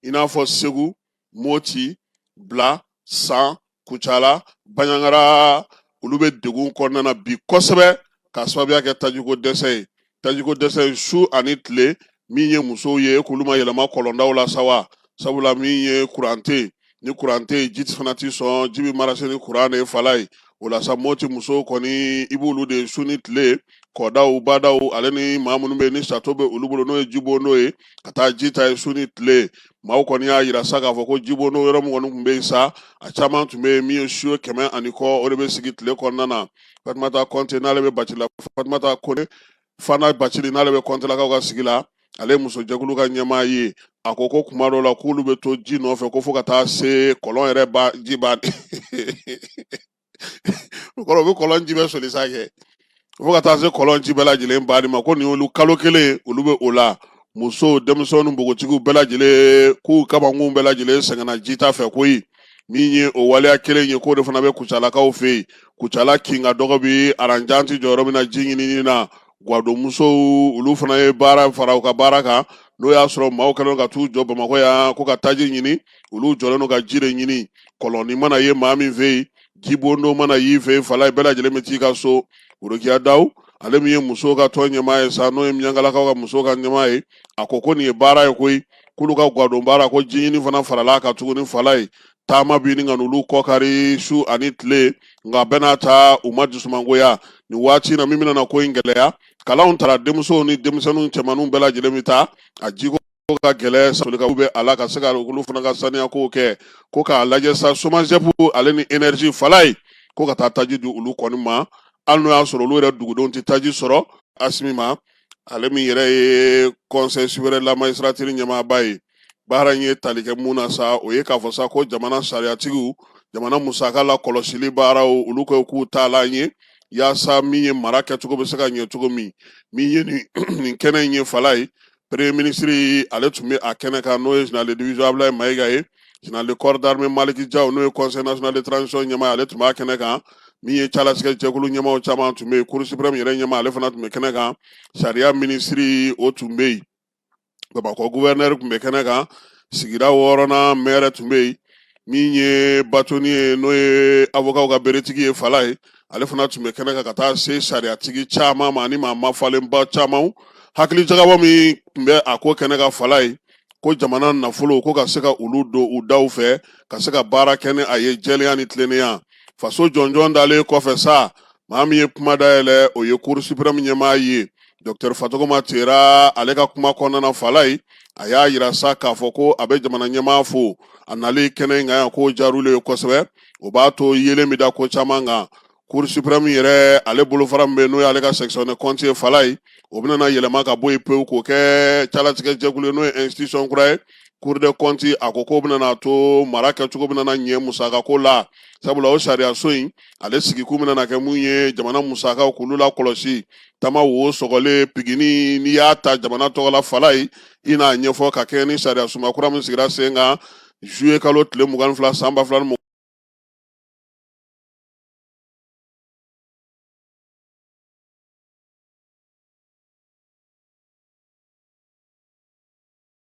i n'a fɔ segu moti bila san kucala baɲangara olu bɛ degun kɔnɔna na bi kosɛbɛ k'a sababuya kɛ tajiko dɛsɛ ye tajiko dɛsɛ ye su ani tile min ye musow ye k'olu ma yɛlɛma kɔlɔndaw la sa wa sabula min ye kuran tɛ ni kuran tɛ yen ji fana tɛ sɔn ji bɛ marase ni kuran de ye falayi o la sa moti musow kɔni i b'olu de su ni tile kɔdaw badaw ale ni maa minnu bɛ ni sato bɛ olu bolo n'o ye jibondo ye ka taa ji ta yen su ni tile maaw kɔni y'a jira sa k'a fɔ ko jibondo yɔrɔ min kɔni tun bɛ yen sa a caman tun bɛ yen min ye siyo kɛmɛ ani kɔ o de bɛ sigi tile kɔnɔna na fatumata kɔnte n'ale bɛ bacila fatumata kone fana bacili n'ale bɛ kɔntalakaw ka sigi la ale musojɛkulu ka ɲɛmaa ye a ko ko kuma dɔ la k'olu bɛ to ji nɔfɛ ko fo ka taa se kɔlɔn yɛrɛ ban ji ban o kɔrɔ u bɛ kɔlɔn ji bɛɛ soli sa kɛ fo ka taa se kɔlɔn ji bɛɛ lajɛlen banni ma ko nin y'olu kalo kelen olu bɛ o la muso denmisɛnw ni npogotigiw bɛɛ lajɛlen k'u kabankun bɛɛ lajɛlen sɛgɛnna jita fɛ koyi min ye o waleya kelen ye k'o de fana bɛ kucalakaw fɛ yen kucala kin ka dɔgɔ bi aran jan ti jɔ yɔrɔ min na ji ɲinini na gwadonmusow olu fana ye baara fara u ka baara kan n'o y'a sɔrɔ maaw kɛlen ka t'u jɔ bamakɔ yan ko ka taji ɲini olu jɔlen don ka ji de ɲini kɔlɔnni mana ye maa min fɛ yen jibondo mana y'i fɛ yen fala bɛɛ lajɛlen bɛ t'i ka so worokiya dawu ale min ye musow ka tɔn ɲɛmaa ye sa n'o ye miyangalakaw ka musow ka ɲɛmaa ye a ko ko nin ye baara ye koyi k'olu ka gwadon baara ko ji ɲini fana farala a kan tuguni falayi taama bɛ ɲini ka n'olu kɔkari su ani tile nka bɛɛ n'a ta u ma dusumangoya nin waati na min bɛna ko in gɛlɛya kalanw taara denmusow ni denmisɛnninw cɛmanninw bɛɛ lajɛlen bɛ taa a jiko ka gɛlɛn solikaw bɛ a la ka se ka olu fana ka saniyakow kɛ ko k'a lajɛ sa SOMAGEP ale ni enerzi Falaye ko ka taa taji di olu kɔni ma hali n'o y'a sɔrɔ olu yɛrɛ dugudenw tɛ taji sɔrɔ asimi ma ale min yɛrɛ ye conseil supérieur de la magistrature ɲɛmaaba ye baara in ye tali kɛ mun na sa o ye k'a fɔ sa ko jamana sariyatigiw jamana musaka lakɔlɔsili baaraw olu ko k'u taalan ye yaasa min ye mara kɛcogo bɛ se ka ɲɛ cogo min min ye nin kɛnɛ in ye Falaye premier minisiri ale tun bɛ a kɛnɛ kan n'o ye général de division Ablaye Mayiga ye général de corps d'armée Maliki Jaw n'o ye conseil national de transition ɲɛmaa ale tun b'a kɛnɛ kan min ye calatigɛ jɛkulu ɲɛmaaw caman tun bɛ yen cour suprême yɛrɛ ɲɛmaa ale fana tun bɛ kɛnɛ kan sariya minisiri o tun bɛ yen bamakɔ guvɛrɛnɛri tun bɛ kɛnɛ kan sigida wɔɔrɔnan mɛrɛ tun bɛ yen min ye bâtonnier n'o ye awɔkaw ka beretigi ye Falaye ale fana tun bɛ kɛnɛ kan ka taa se sariyatigi caman ma ani maa mafalenba caman hakili jagabɔ min tun bɛ a ko kɛnɛ kan Falaye ko jamana nafolo ko ka se ka olu don u daw fɛ ka se ka baara kɛ ni a ye jɛlenya ni tilennenya faso jɔnjɔn dalen kɔfɛ sa maa min ye kuma dayɛlɛ o ye cour suprême ɲɛmaa ye Docteur Fatɔgɔma Tera ale ka kuma kɔnɔna na Falaye a y'a yira sa k'a fɔ ko a bɛ jamana ɲɛmaa fo a nali kɛnɛ in kan yan k'o jar'olu ye kosɛbɛ o b'a to yeelen bɛ da ko caman kan Cour suprême yɛrɛ ale bolofara min bɛ n'o y'ale ka section des comptes ye Falaye o bɛna yɛlɛma ka bɔ yen pewu k'o kɛ calatigɛ jɛkulu ye n'o ye institution kura ye cour des comptes a ko k'o bɛna to mara kɛcogo bɛna ɲɛ musaka ko la sabula o sariyaso in ale sigikun bɛna kɛ mun ye jamana musakaw k'olu lakɔlɔsi tama wo sɔgɔlen pigini n'i y'a ta jamana tɔgɔ la Falaye i n'a ɲɛfɔ ka kɛɲɛ ni sariya sunba kura min sigira sen kan juillet kalo tile mugan ni fila san ba fila ni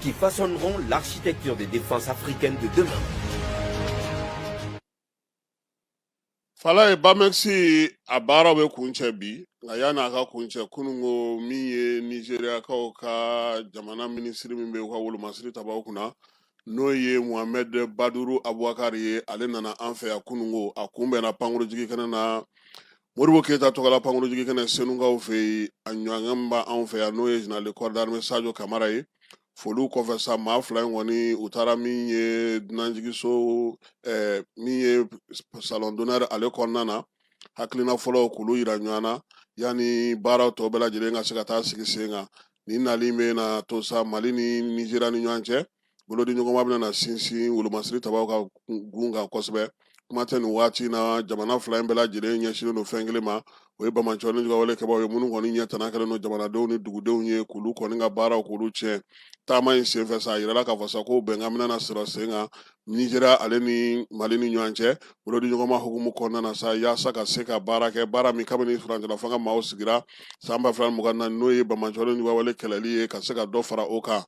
qui façonneront l'architecture des défenses africaines de demain. Falaye BAMEX a baara bɛ kuncɛ bi nka yanni a ka kuncɛ kunungo min ye nizeriyakaw ka jamana minisiri min bɛ u ka wolomasiri tabaw kunna n'o ye mohamɛd baduru abubakari ye ale nana an fɛ yan kunungo a kunbɛnna pankurujigi kɛnɛ na Modibo keyita tɔgɔla pankurunjigin kɛnɛ senukaw fɛ yen a ɲɔgɔn b'anw fɛ yan n'o ye général de corps d'armée sajo kamara ye foli kɔfɛ sa maa fila in kɔni u taara min ye dunanjiginso min ye salon d'honneur ale kɔnɔna na hakilina fɔlɔ k'olu yira ɲɔgɔn na yanni baara tɔ bɛɛ lajɛlen ka se ka taa sigi sen kan nin nali bɛna to sa mali ni nizeriya ni ɲɔgɔn cɛ bolodiɲɔgɔnma bɛna na sinsin wolomasiri tabaw ka gun kan kosɛbɛ kuma tɛ nin waati in na jamana fila in bɛɛ lajɛlen ɲɛsinnen don fɛn kelen ma o ye bamacɔ ni jugawale kɛbaaw ye minnu kɔni ɲɛ tana kɛlen don jamanadenw ni dugudenw ye k'olu kɔni ka baaraw k'olu tiɲɛ taama in senfɛ sa a yirala k'a fɔ sa ko bɛnkan bɛna na sɔrɔ sen kan nizeriya ale ni mali ni ɲɔgɔn cɛ bolodiɲɔgɔnma hukumu kɔnɔna na sa yaasa ka se ka baara kɛ baara min kabini furancɛla fanga maaw sigira san ba fila mugan na n'o ye bamacɔ ni jugawale kɛlɛli ye ka se ka dɔ fara o kan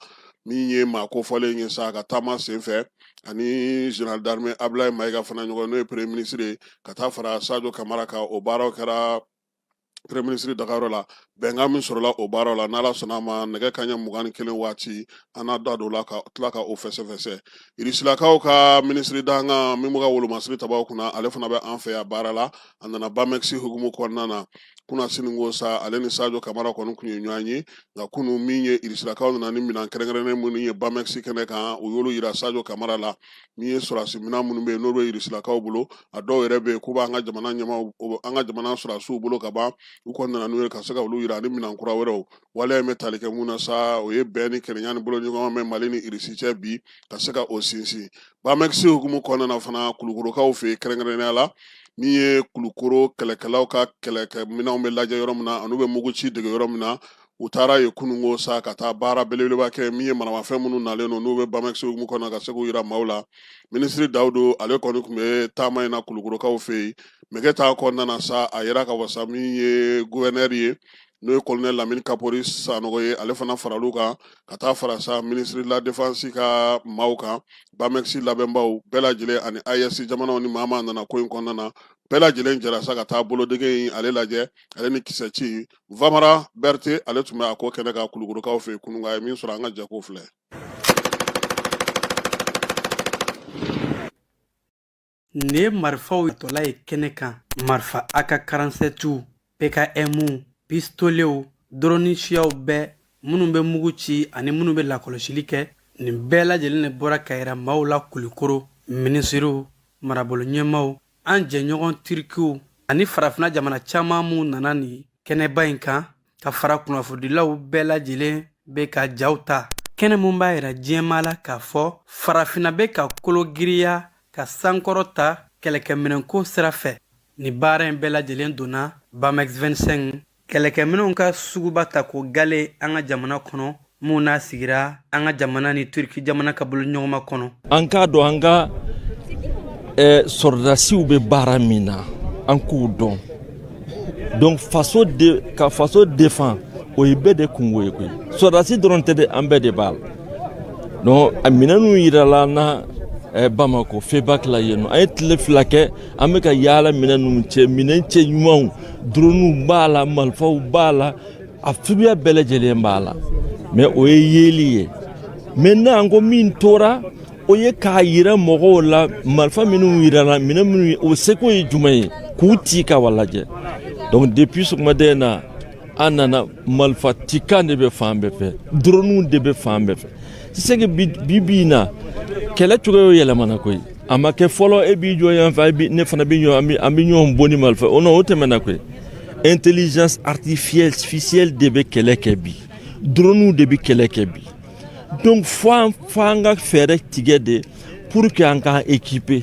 min ye maa kofɔlen ye sa ka taama senfɛ ani général d'armée Ablaye Mayiga fana ɲɔgɔn n'o ye premier ministre ye ka taa fara Sadio Kamara kan o baaraw kɛra premier ministre dagayɔrɔ la bɛnkan min sɔrɔla o baaraw la n'ala sɔnna a ma nɛgɛ kanɲɛ mugan ni kelen waati an n'a da don la ka tila ka o fɛsɛfɛsɛ irisilakaw ka minisiri dankan min b'u ka wolomasiri tabaw kunna ale fana bɛ an fɛ yan baara la a nana bamɛkisi hukumu kɔnɔna na kunasininko sa ale ni sajo kamara kɔni tun ye ɲɔgɔn ye nka kunu min ye irisilakaw nana ni minɛn kɛrɛnkɛrɛnnen minnu ye bamɛkisi kɛnɛ kan u y'olu yira sajo kamara la min ye sɔrɔdasi minɛn minnu bɛ yen n'o bɛ irisilakaw bolo a dɔw yɛrɛ bɛ yen k'u b'an ka jamana ɲɛmaaw an ka jamana sɔrɔdasiw bolo ka ban u kɔni nana n'u ye ka se ka olu yira ani minɛn kura wɛrɛw waleya in bɛ tali kɛ mun na sa o ye bɛn ni kelenya ni bolodiɲɔgɔnma bɛ mali ni irisi cɛ bi ka se ka o sinsin Bamɛkisi hukumu kɔnɔna na fana kulukorokaw fɛ yen kɛrɛnkɛrɛnnenya la min ye kulukoro kɛlɛkɛlaw ka kɛlɛkɛminɛnw bɛ lajɛ yɔrɔ min na an'u bɛ muguci dege yɔrɔ min na u taara yen kununko sa ka taa baara belebeleba kɛ min ye maramafɛn minnu nalen don n'u bɛ bamɛkisi hukumu kɔnɔna ka se k'u yira maaw la minisiri dawudu ale kɔni tun bɛ taama in na kulukorokaw fɛ yen mɛgɛtan kɔnɔna na sa a yera k'a fɔ sa min ye guvɛnɛri ye n'o ye kolonɛli lamini kapori sanɔgɔ ye ale fana faral'u kan ka taa fara sa ministre de la défense ka maaw kan bamɛkisi labɛnbaw bɛɛ lajɛlen ani AES jamanaw ni maa nana ko in kɔnɔna na bɛɛ lajɛlen jɛra sa ka taa bolodege in ale lajɛ ale ni kisɛ ci vamara berete ale tun bɛ a ko kɛnɛ kan kulukorokaw fɛ kununko a ye min sɔrɔ an ka jɛko filɛ Nin ye marifaw tɔla ye kɛnɛ kan marifa AK karansɛtiw PKMw pistolew dɔrɔni siyaw bɛɛ minnu bɛ mugu ci ani minnu bɛ lakɔlɔsili kɛ nin bɛɛ lajɛlen de bɔra ka yira maaw la kulikoro minisiriw marabolo ɲɛmaaw an jɛɲɔgɔn tirikiw ani farafina jamana caman minnu nana nin kɛnɛba in kan ka fara kunnafonidilaw bɛɛ lajɛlen bɛ ka jaw ta kɛnɛ mun b'a yira diɲɛmaa la k'a fɔ farafinna bɛ ka kolo giriya ka sankɔrɔta kɛlɛkɛminɛnko sira fɛ nin baara in bɛɛ lajɛlen donna bamex 25 kɛlɛkɛminɛnw ka suguba tako gale an ka jamana kɔnɔ mun n'a sigira an ka jamana ni turki jamana ka bolo ɲɔgɔnma kɔnɔ an k'a dɔn an ka eh, sɔrɔdasiw bɛ baara min na an k'u dɔn donc ka faso défend o ye bɛɛ de kunko ye koyi sɔrɔdasi dɔrɔn tɛ dɛ an bɛɛ de b'a la donc a minɛnw yirala an na eh, bamako febak la yen nɔ an ye tile fila kɛ an bɛ ka yaala minɛn ninnu cɛ minɛn cɛɲumanw droniw b'a la malifaw b'a la a suguya bɛɛ lajɛlen b'a la mais o ye yeli ye maintenant ko min tora o ye k'a yira mɔgɔw la marifa minnu yirala minɛn minnu o seko ye jumɛn ye k'u ci ka wa lajɛ donc depuis sɔgɔmada in na an nana marifa cikan de bɛ fan bɛɛ fɛ droniw de bɛ fan bɛɛ fɛ c'est que bi bi in na kɛlɛ cogoyaw yɛlɛmana koyi a ma kɛ fɔlɔ e b'i jɔ yan fɛ ne fana bɛ ɲɔgɔn an bɛ ɲɔgɔn bon ni marifa o o tɛmɛna koyi intelligence artificielle de bɛ kɛlɛ kɛ bi droni de bɛ kɛlɛ kɛ bi donc fo an fo an ka fɛɛrɛ tigɛ de pour que an ka équiper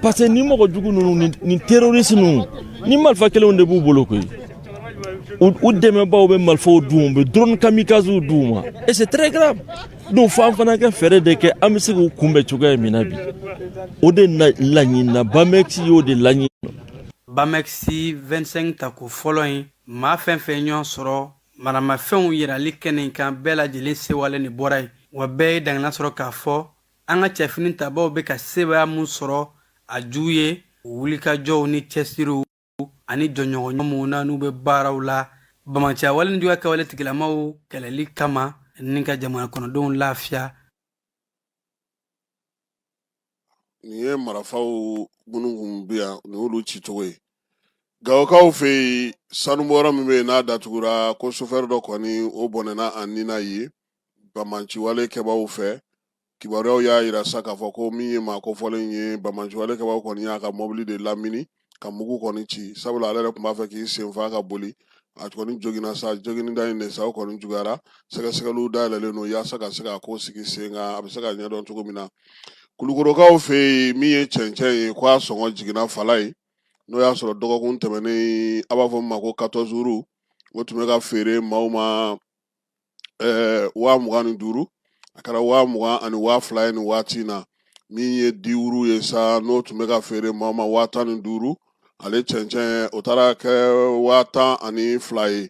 parce que ni mɔgɔ jugu ninnu ni terroriste ninnu ni marifa kelenw de b'u bolo koyi u dɛmɛbaw bɛ marifaw d'u ma u bɛ droni kamikazew d'u ma et c'est très grave donc fo an fana ka fɛɛrɛ de kɛ an bɛ se k'u kunbɛn cogoya min na bi o de laɲinina bamɛkisi y'o de laɲini bamɛkisi 25 tako fɔlɔ in maa fɛn fɛn ɲɔgɔn sɔrɔ maramafɛnw yirali kɛnɛ in kan bɛɛ lajɛlen sɛwalen bɔra yen wa bɛɛ ye daŋaniya sɔrɔ k'a fɔ an ka cɛfini tabaw bɛ ka sebaaya min sɔrɔ a ju ye wulikajɔw ni cɛsiriw ani jɔɲɔgɔnya minnu na n'u bɛ baaraw la banbaanciya wale ni juguya kɛwale tigilamaw kɛlɛli kama ni ka jamana kɔnɔdenw lafiya nin ye marafaw minnu kun bɛ yan nin y'olu ci cogo ye gawokaw fɛ yen sanu bɔyɔrɔ min bɛ yen n'a datugura ko sofɛri dɔ kɔni o bɔnɛna a ni na ye banbaanciwale kɛbaaw fɛ kibaruyaw y'a yira sa k'a fɔ ko min ye maa kofɔlen ye banbaanciwale kɛbaaw kɔni y'a ka mɔbili de lamini ka mugu kɔni ci sabula ale yɛrɛ tun b'a fɛ k'i senfa ka boli a kɔni joginna sa joginnida in de sa o kɔni juguyara sɛgɛsɛgɛliw dayɛlɛlen don yaasa ka se ka ko sigi sen kan a bɛ se ka ɲɛdɔn cogo min na kulukorokaw fɛ yen min ye cɛncɛn ye k'a sɔngɔ jiginna fala ye n'o y'a sɔrɔ dɔgɔkun tɛmɛnen a b'a fɔ min ma ko quatorze roues o tun bɛ ka feere maaw ma eh, waa mugan ni duuru a kɛra waa mugan ani waa fila ye nin waati na min ye dix roues ye sa n'o tun bɛ ka feere maa ma waa tan ni duuru ale cɛncɛn o taara kɛ waa tan ani fila ye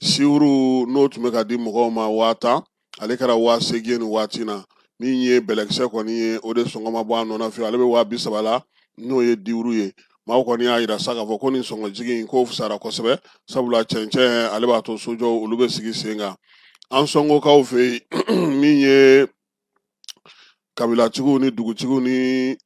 six roues n'o tun bɛ ka di mɔgɔw ma waa tan ale kɛra waa seegin ye nin waati na min ye bɛlɛkisɛ kɔni ye o de sɔngɔ ma bɔ a nɔ na fiyewu ale bɛ waa bi saba la n'o ye dix roues ye maaw kɔni y'a yira sa k'a fɔ ko nin sɔngɔjigi in k'o fisara kosɛbɛ sabula cɛncɛn ale b'a to sojɔw olu bɛ sigi sen kan ansɔngokaw fɛ yen min ye kabilatigiw ni dugutigiw ni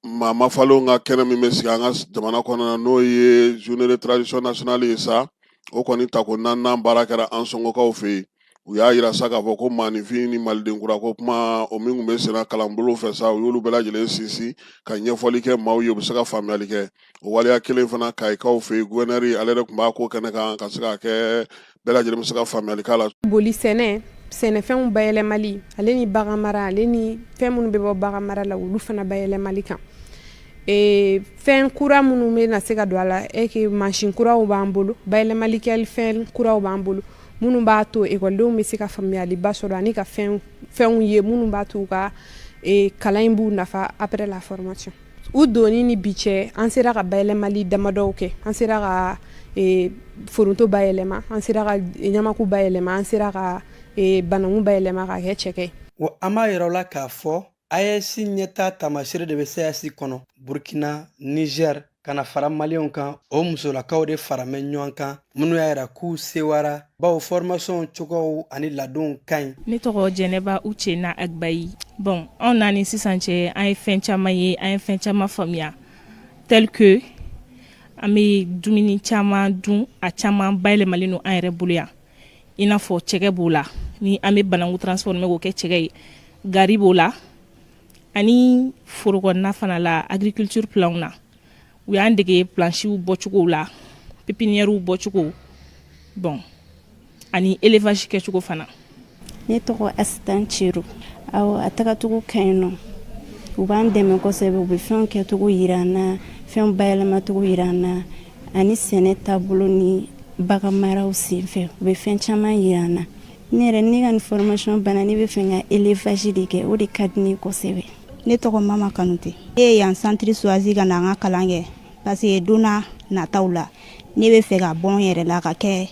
maa mafalenw ka kɛnɛ min bɛ sigi an ka jamana kɔnɔna n'o ye journée de tradition nationale ye sa o kɔni tako naaninan baara kɛra ansɔngokaw fɛ yen u y'a yira sa k'a fɔ ko maaninfin ni maliden kura ko kuma o min tun bɛ senna kalanbolo fɛ sa u y'olu bɛɛ lajɛlen sinsin ka ɲɛfɔli kɛ maaw ye u bɛ se ka faamuyali kɛ o waleya kelen fana kayikaw fɛ yen guwɛnɛri ale yɛrɛ tun b'a ko kɛnɛ kan ka se ka kɛ bɛɛ lajɛlen bɛ se ka faamuyali k'a la boli sɛnɛ sɛnɛfɛnw bayɛlɛmali ale ni bagan mara ale ni fɛn minnu bɛ bɔ bagan mara la olu fana bayɛlɛmali kan e, fɛn kura minnu bɛ na se ka don a la eke mansin kuraw b'an bolo bayɛlɛmali kɛli fɛn kuraw b'an bolo minnu b'a to ekɔlidenw bɛ se ka faamuyaliba sɔrɔ ani ka fɛnw ye minnu b'a to u ka e, kalan in b'u nafa après la formation u donni ni bi cɛ an sera ka bayɛlɛmali damadɔw kɛ an sera ka e, foronto bayɛlɛma an sera ka ɲamaku bayɛlɛma an sera ka e, bananku bayɛlɛma ka kɛ cɛkɛ wa an b'a yira u la k'a fɔ AES ɲɛtaa taamaseere de bɛ CAAS kɔnɔ burkina nizɛri ka na fara maliyɛnw kan o musolakaw de faramɛ ɲɔgɔn kan minnu y'a yira k'u sewara bawo fɔrɔmasiyɔnw cogow ani ladonw ka ɲi ne tɔgɔ jɛnɛba ucena agbayi bon anw na ni sisan cɛ an ye fɛn caman ye an ye fɛn caman faamuya tel que an bɛ dumuni caman dun a caman bayɛlɛmalen don an yɛrɛ bolo yan i n'a fɔ cɛgɛ b'o la ni an bɛ bananku transformé k'o kɛ cɛgɛ ye gari b'o la ani foro kɔnɔna fana la agriculture plan na u y'an dege plansiw bɔcogow la pipiniyɛriw bɔcogo bon ani élevage kɛcogo fana ne tɔgɔ asitan cero awɔ a tagacogo ka ɲi nɔ u b'an dɛmɛ kosɛbɛ u bɛ fɛnw kɛcogo yira an na fɛnw bayɛlɛmacogo yira an na ani sɛnɛ taabolo ni bagan maraw senfɛ u bɛ fɛn caman yira an na ne yɛrɛ ne ka ni fɔrɔmasiyɔn banna ne bɛ fɛ ka élevage de kɛ o de ka di ne kosɛbɛ ne tɔgɔ mama kanute ne ye yan centre choisi ka na n ka kalan kɛ parce que donna nataw la ne bɛ fɛ ka bɔ n yɛrɛ la ka kɛ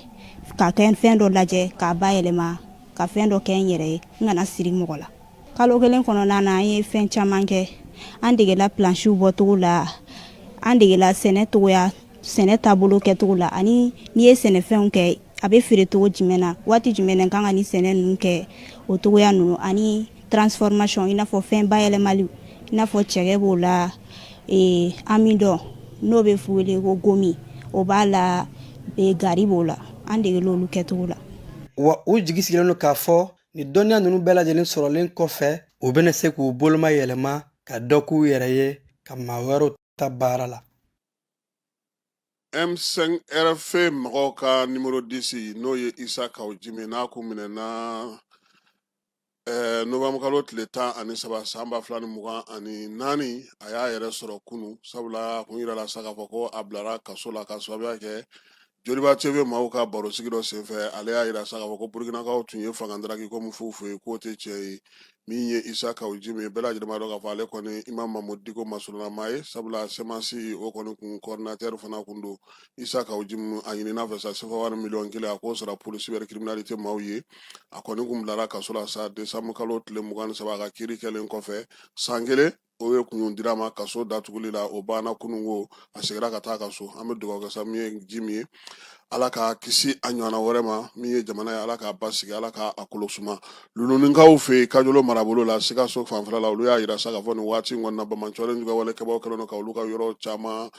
ka kɛ fɛn dɔ lajɛ k'a bayɛlɛma ka fɛn dɔ kɛ n yɛrɛ ye n kana siri mɔgɔ la kalo kelen kɔnɔna na an ye fɛn caman kɛ an degela plansiw bɔcogo la an degela sɛnɛ cogoya sɛnɛ taabolo kɛcogo la ani n'i ye sɛnɛfɛnw kɛ a bɛ feere cogo jumɛn na waati jumɛn na kan ka nin sɛnɛ ninnu kɛ o cogoya ninnu ani transformation i n'a fɔ fɛn bayɛlɛmali i n'a fɔ cɛgɛ b'o la ee, amidɔn n'o bɛ wele ko gomi o b'a la ee, gari b'o la an degel'olu kɛcogo la wa u jigi sigilen don k'a fɔ Ni dɔnniya ninnu bɛɛ lajɛlen sɔrɔlen kɔfɛ u bɛna se k'u boloma yɛlɛma ka dɔ k'u yɛrɛ ye ka maa wɛrɛw ta baara la M5RF mɔgɔw ka nimoro disi n'o ye Isa Kaw Jime n'a kun minɛna eh, novanbukalo tile tan ani saba san ba fila ni mugan ani naani a y'a yɛrɛ sɔrɔ kunu sabula a kun yirala sa k'a fɔ ko a bilara kaso la ka sababuya kɛ Joliba TV maaw ka barosigi dɔ senfɛ ale y'a yira sa k'a fɔ ko Burkinakaw tun ye fanga daraki ko min f'u fɛ yen k'o tɛ tiɲɛ ye min ye Isa Kawu Jim ye bɛɛ lajɛlen b'a dɔn k'a fɔ ale kɔni Imamu Mamudu Diko masurunama ye sabula CMAS o kɔni kun coordinateur fana kun don Isa Kawu Jim a ɲinin'a fɛ sa sefawari miliyɔn kelen a k'o sara pôle cybercriminalité maaw ye a kɔni kun bilara kaso la sa desanbukalo tile mugan ni saba a ka kiiri kɛlen kɔfɛ san kelen o ye kun dir'a ma kaso datuguli la o banna kunungo a segira ka taa a ka so an bɛ dugawu kɛ sa min ye jime ye ala k'a kisi a ɲɔgɔnna wɛrɛ ma min ye jamana ye ala k'a basigi ala k'a a kolo suma luluninkaw fɛ yen kajolo marabolo la sikaso fanfɛla la olu y'a yira sa k'a fɔ nin waati in kɔnɔna bamancɔlen juguya wale kɛbaaw kɛlen don ka olu ka yɔrɔ caman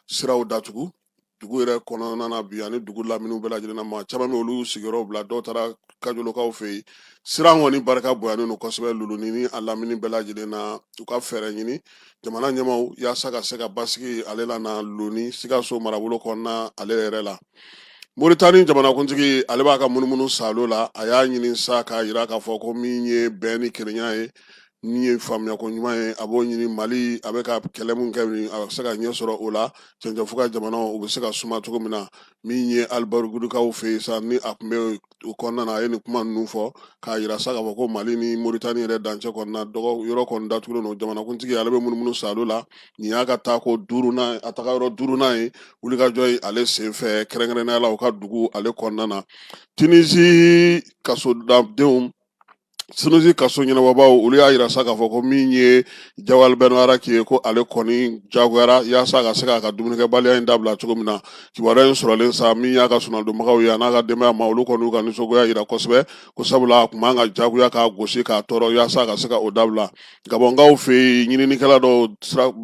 siraw datugu dugu yɛrɛ kɔnɔna na bi ani dugu lamini bɛɛ lajɛlen maa caman bɛ olu sigiyɔrɔ bila dɔw taara kajolokaw fɛ yen siran kɔni barika bonyanen don kosɛbɛ luluni n'a lamini bɛɛ lajɛlen na u ka fɛɛrɛ ɲini jamana ɲɛmaaw yaasa ka se ka basigi ale lana luluni sikaso marabolo kɔnɔna ale yɛrɛ la moritani jamanakuntigi ale b'a ka munumunu salo la a y'a ɲini sa k'a yira k'a fɔ ko min ye bɛn ni kelenya ye min ye faamuyako ɲuman ye a b'o ɲini mali a bɛ ka kɛlɛ min kɛ a bɛ se ka ɲɛ sɔrɔ o la cɛncɛnfu ka jamanaw u bɛ se ka suma cogo min na min ye alibarigurukaw fɛ yen sa ni a tun bɛ o kɔnɔna na a ye nin kuma ninnu fɔ k'a yira sa k'a fɔ ko mali ni moritani yɛrɛ dancɛ kɔnɔna dɔgɔ yɔrɔ kɔni datugulen don jamanakuntigi ale bɛ munumunu salo la nin y'a ka taako duurunan a taga yɔrɔ duurunan ye wulikajɔ ye ale senfɛ kɛrɛnkɛrɛnnenya la u ka dugu ale kɔnɔna na tinizi kasodadenw sinusi kaso ɲɛnabɔbaaw olu y'a yira sa k'a fɔ ko min ye jawari bɛn mbarɛki ye ko ale kɔni jagoyara yaasa a ka se k'a ka dumunikɛbaliya in dabila cogo min na kibaruya in sɔrɔlen sa min y'a ka soronadonbagaw ye an'a ka denbaya maaw olu kɔni ka nisɔngoya yira kosɛbɛ ko sabula a tun b'an k'a jagoya k'a gosi k'a tɔɔrɔ yaasa a ka se ka o dabila gabɔnkaw fɛ yen ɲininikɛla dɔw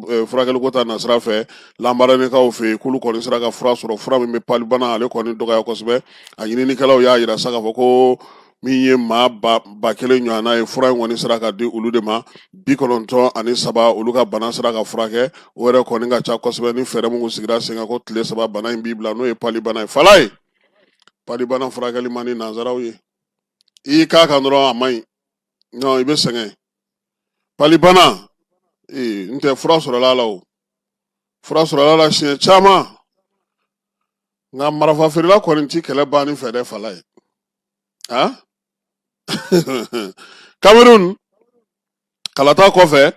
eh, furakɛliko ta nasira fɛ lambarenekaw fɛ yen k'olu kɔni sera ka fura sɔrɔ fura min bɛ palibana ale kɔni dɔgɔya kosɛbɛ a ɲininikɛlaw y'a yira sa k'a fɔ ko min ye maa ba kelen ɲɔgɔnna ye fura in kɔni sera ka di olu de ma bi kɔnɔntɔn ani saba olu ka bana sera ka furakɛ o yɛrɛ kɔni ka ca kosɛbɛ ni fɛɛrɛ minnu sigira sen kan ko tile saba bana in b'i bila n'o ye palibana ye falaye palibana furakɛli man di nanzaraw ye i y'i k'a kan dɔrɔn a man ɲi non i bɛ sɛgɛn palibana ee n'o tɛ fura sɔrɔla a la o fura sɔrɔla a la siɲɛ caman nka marafafeerela kɔni ti kɛlɛ banni fɛ dɛ falaye ah? Cameroun kalata kɔfɛ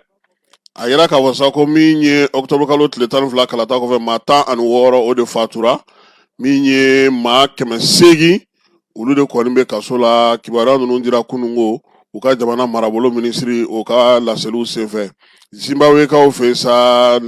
a yira k'a fɔ sa ko min ye octobre kalo tile tan ni fila kalata kɔfɛ maa tan ani wɔɔrɔ o de fatura min ye maa kɛmɛ seegin olu de kɔni bɛ kaso la kibaruya ninnu dira kunungo u ka jamana marabolo minisiri o ka laseliw senfɛ Zimbabwekaw fɛ yen sa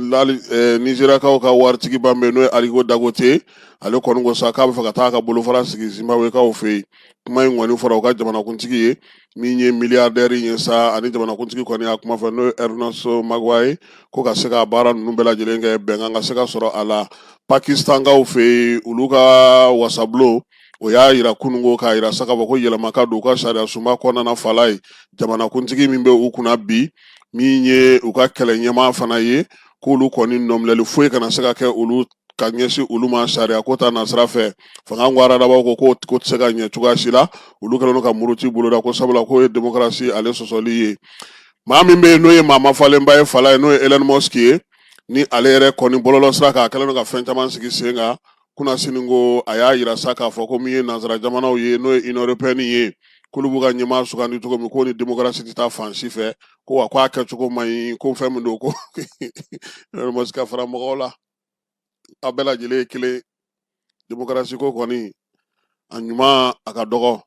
Nizeriyakaw ka waritigiba min bɛ yen n'o ye Aliko Dangote ale kɔni ko sa k'a bɛ fɛ ka taa a ka bolofara sigi Zimbabwekaw fɛ yen kuma in kɔni fɔra u ka jamanakuntigi ye min ye miliyardɛri in ye sa ani jamanakuntigi kɔni y'a kuma fɔ n'o ye Ɛrinaso Maguwaye ko ka se ka baara ninnu bɛɛ lajɛlen kɛ bɛnkan ka se ka sɔrɔ a la Pakistankaw fɛ yen olu ka wasabulon o y'a yira kunungo k'a yira sa k'a fɔ ko yɛlɛma ka don u ka sariya sunba kɔnɔna fala ye jamanakuntigi min bɛ u kunna bi min ye u ka kɛlɛ ɲɛmaa fana ye k'olu kɔni nɔminɛli foyi kana se ka kɛ olu ka ɲɛsin olu ma sariya ko ta nasira fɛ fanga ko aradabaw ko ko ko tɛ se ka ɲɛ cogoya si la olu kɛlen ka muruti boloda ko sabula k'o ye demokarasi ale sɔsɔli ye maa min bɛ yen n'o ye maa mafalenba ye fala ye n'o ye Elon Musk ye ni ale yɛrɛ kɔni bɔlɔlɔ sira kan a kɛlen ka fɛn caman sigi sen kan kunasinin ko a y'a yira sa k'a fɔ ko min ye nansara jamanaw ye n'o ye Union européenne ye k'olu b'u ka ɲɛmaa sugandi cogo min k'o ni demokarasi tɛ taa fan si fɛ ko wa k'a kɛcogo man ɲi ko fɛn min don ko Musk ka fara mɔgɔw la a bɛɛ lajɛlen ye kelen demokarasi ko kɔni a ɲuman a ka dɔgɔ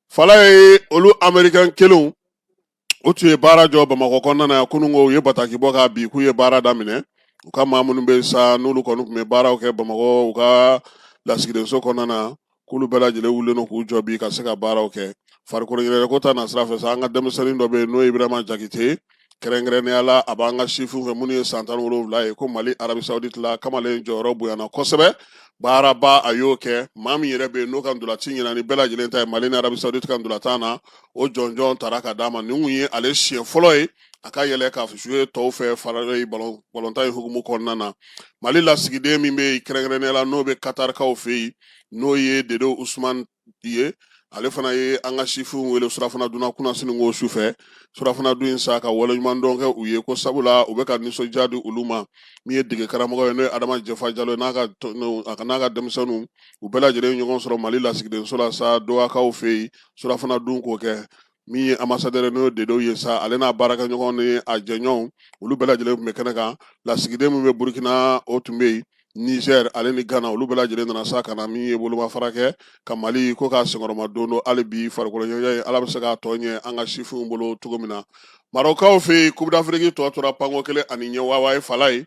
fala ye olu amerikan kelenw o tun ye baara jɔ bamakɔ kɔnɔna na kunungo u ye bataki bɔ ka bi k'u ye baara daminɛ u ka maa minnu bɛ sa n'olu kɔni tun bɛ baaraw kɛ bamakɔ u ka lasigidenso kɔnɔna na k'olu bɛɛ lajɛlen wulilen don k'u jɔ bi ka se ka baaraw kɛ farikolo ɲɛnajɛko ta nasira fɛ sa an ka denmisɛnnin dɔ bɛ yen n'o ye ibrahima jakite kɛrɛnkɛrɛnnenya la a b'an ka sifinw fɛ minnu ye san tan ni wolonwula ye ko mali arabisawuditi la kamalen jɔyɔrɔ bonyana kosɛbɛ baaraba a y'o kɛ maa min yɛrɛ bɛ yen n'o ka ntolaci ɲɛna ni bɛɛ lajɛlen ta ye mali ni arabisawudi ka ntolatan na o jɔnjɔn taara ka d'a ma nin tun ye ale siɲɛ fɔlɔ ye a ka yɛlɛ ka jouer tɔw fɛ fara balontan in hukumu kɔnɔna na mali lasigiden min bɛ kɛrɛnkɛrɛnnenya la n'o bɛ katarikaw fɛ yen n'o ye dedo usumani ye ale fana ye an ka sifinw wele surafana dunna kunasinin ko su fɛ surafana dun in sa ka waleɲuman dɔn kɛ u ye ko sabula u bɛ ka nisɔndiya di olu ma min ye dege karamɔgɔ ye n'o ye adama jɛfa jalo n'a ka a n'a ka denmisɛnninw u bɛɛ lajɛlen ɲɔgɔn sɔrɔ mali lasigidenso la sa dohakaw fɛ yen surafana dun k'o kɛ min ye ambasadɛri n'o ye dedo ye sa ale n'a baarakɛɲɔgɔn ni a jɛɲɔgɔnw olu bɛɛ lajɛlen tun bɛ kɛnɛ kan lasigiden min bɛ burukina o tun bɛ yen nizɛr ale ni gana olu bɛɛ lajɛlen nana sa ka na min ye bolomafara kɛ ka mali ko k'a senkɔrɔmadondon hali bi farikoloɲɛnajɛ ala bɛ se k'a tɔ ɲɛ an ka sifinw bolo cogo min na marɔkaw fɛ yen Coupe d'Afrique tɔ tora panko kelen ani ɲɛ wawa ye fala ye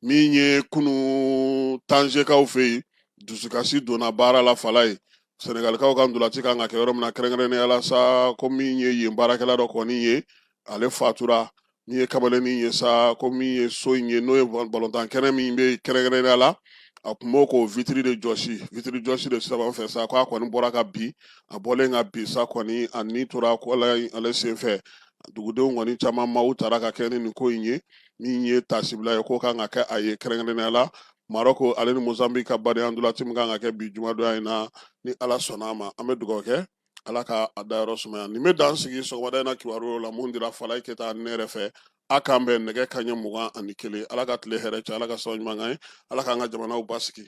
min ye kunun tanzekaw fɛ yen dusukasi donna baara la fala ye sɛnɛgalikaw ka ntolanci kan ka kɛ yɔrɔ min na kɛrɛnkɛrɛnnenya la sa ko min ye yen baarakɛla dɔ kɔni ye ale fatura min ye kamalennin ye sa ko min ye so in ye n'o ye balontan kɛnɛ min bɛ kɛrɛnkɛrɛnnenya la a tun b'o ka vitiri de jɔsi vitiri jɔsi de sababu fɛ sa k'a kɔni bɔra ka bin a bɔlen ka bin sa kɔni a ni tora ko ale senfɛ dugudenw kɔni caman maaw taara ka kɛ ni nin ko in ye min ye tasibila ye k'o kan ka kɛ a ye kɛrɛnkɛrɛnnenya la marɔko ale ni mozambiki ka badenya ntolanci min kan ka kɛ bi jumadonya in na ni ala sɔnna a ma an bɛ dugawu kɛ ala ka a dayɔrɔ sumaya nin bɛ dan sigi sɔgɔmada in na kibaruyaw la mun dira falayi keyita ne yɛrɛ fɛ a k'an bɛn nɛgɛ kanɲɛ mugan ani kelen ala ka tile hɛrɛ caya ala ka sababu ɲuman k'an ye ala k'an ka jamanaw basigi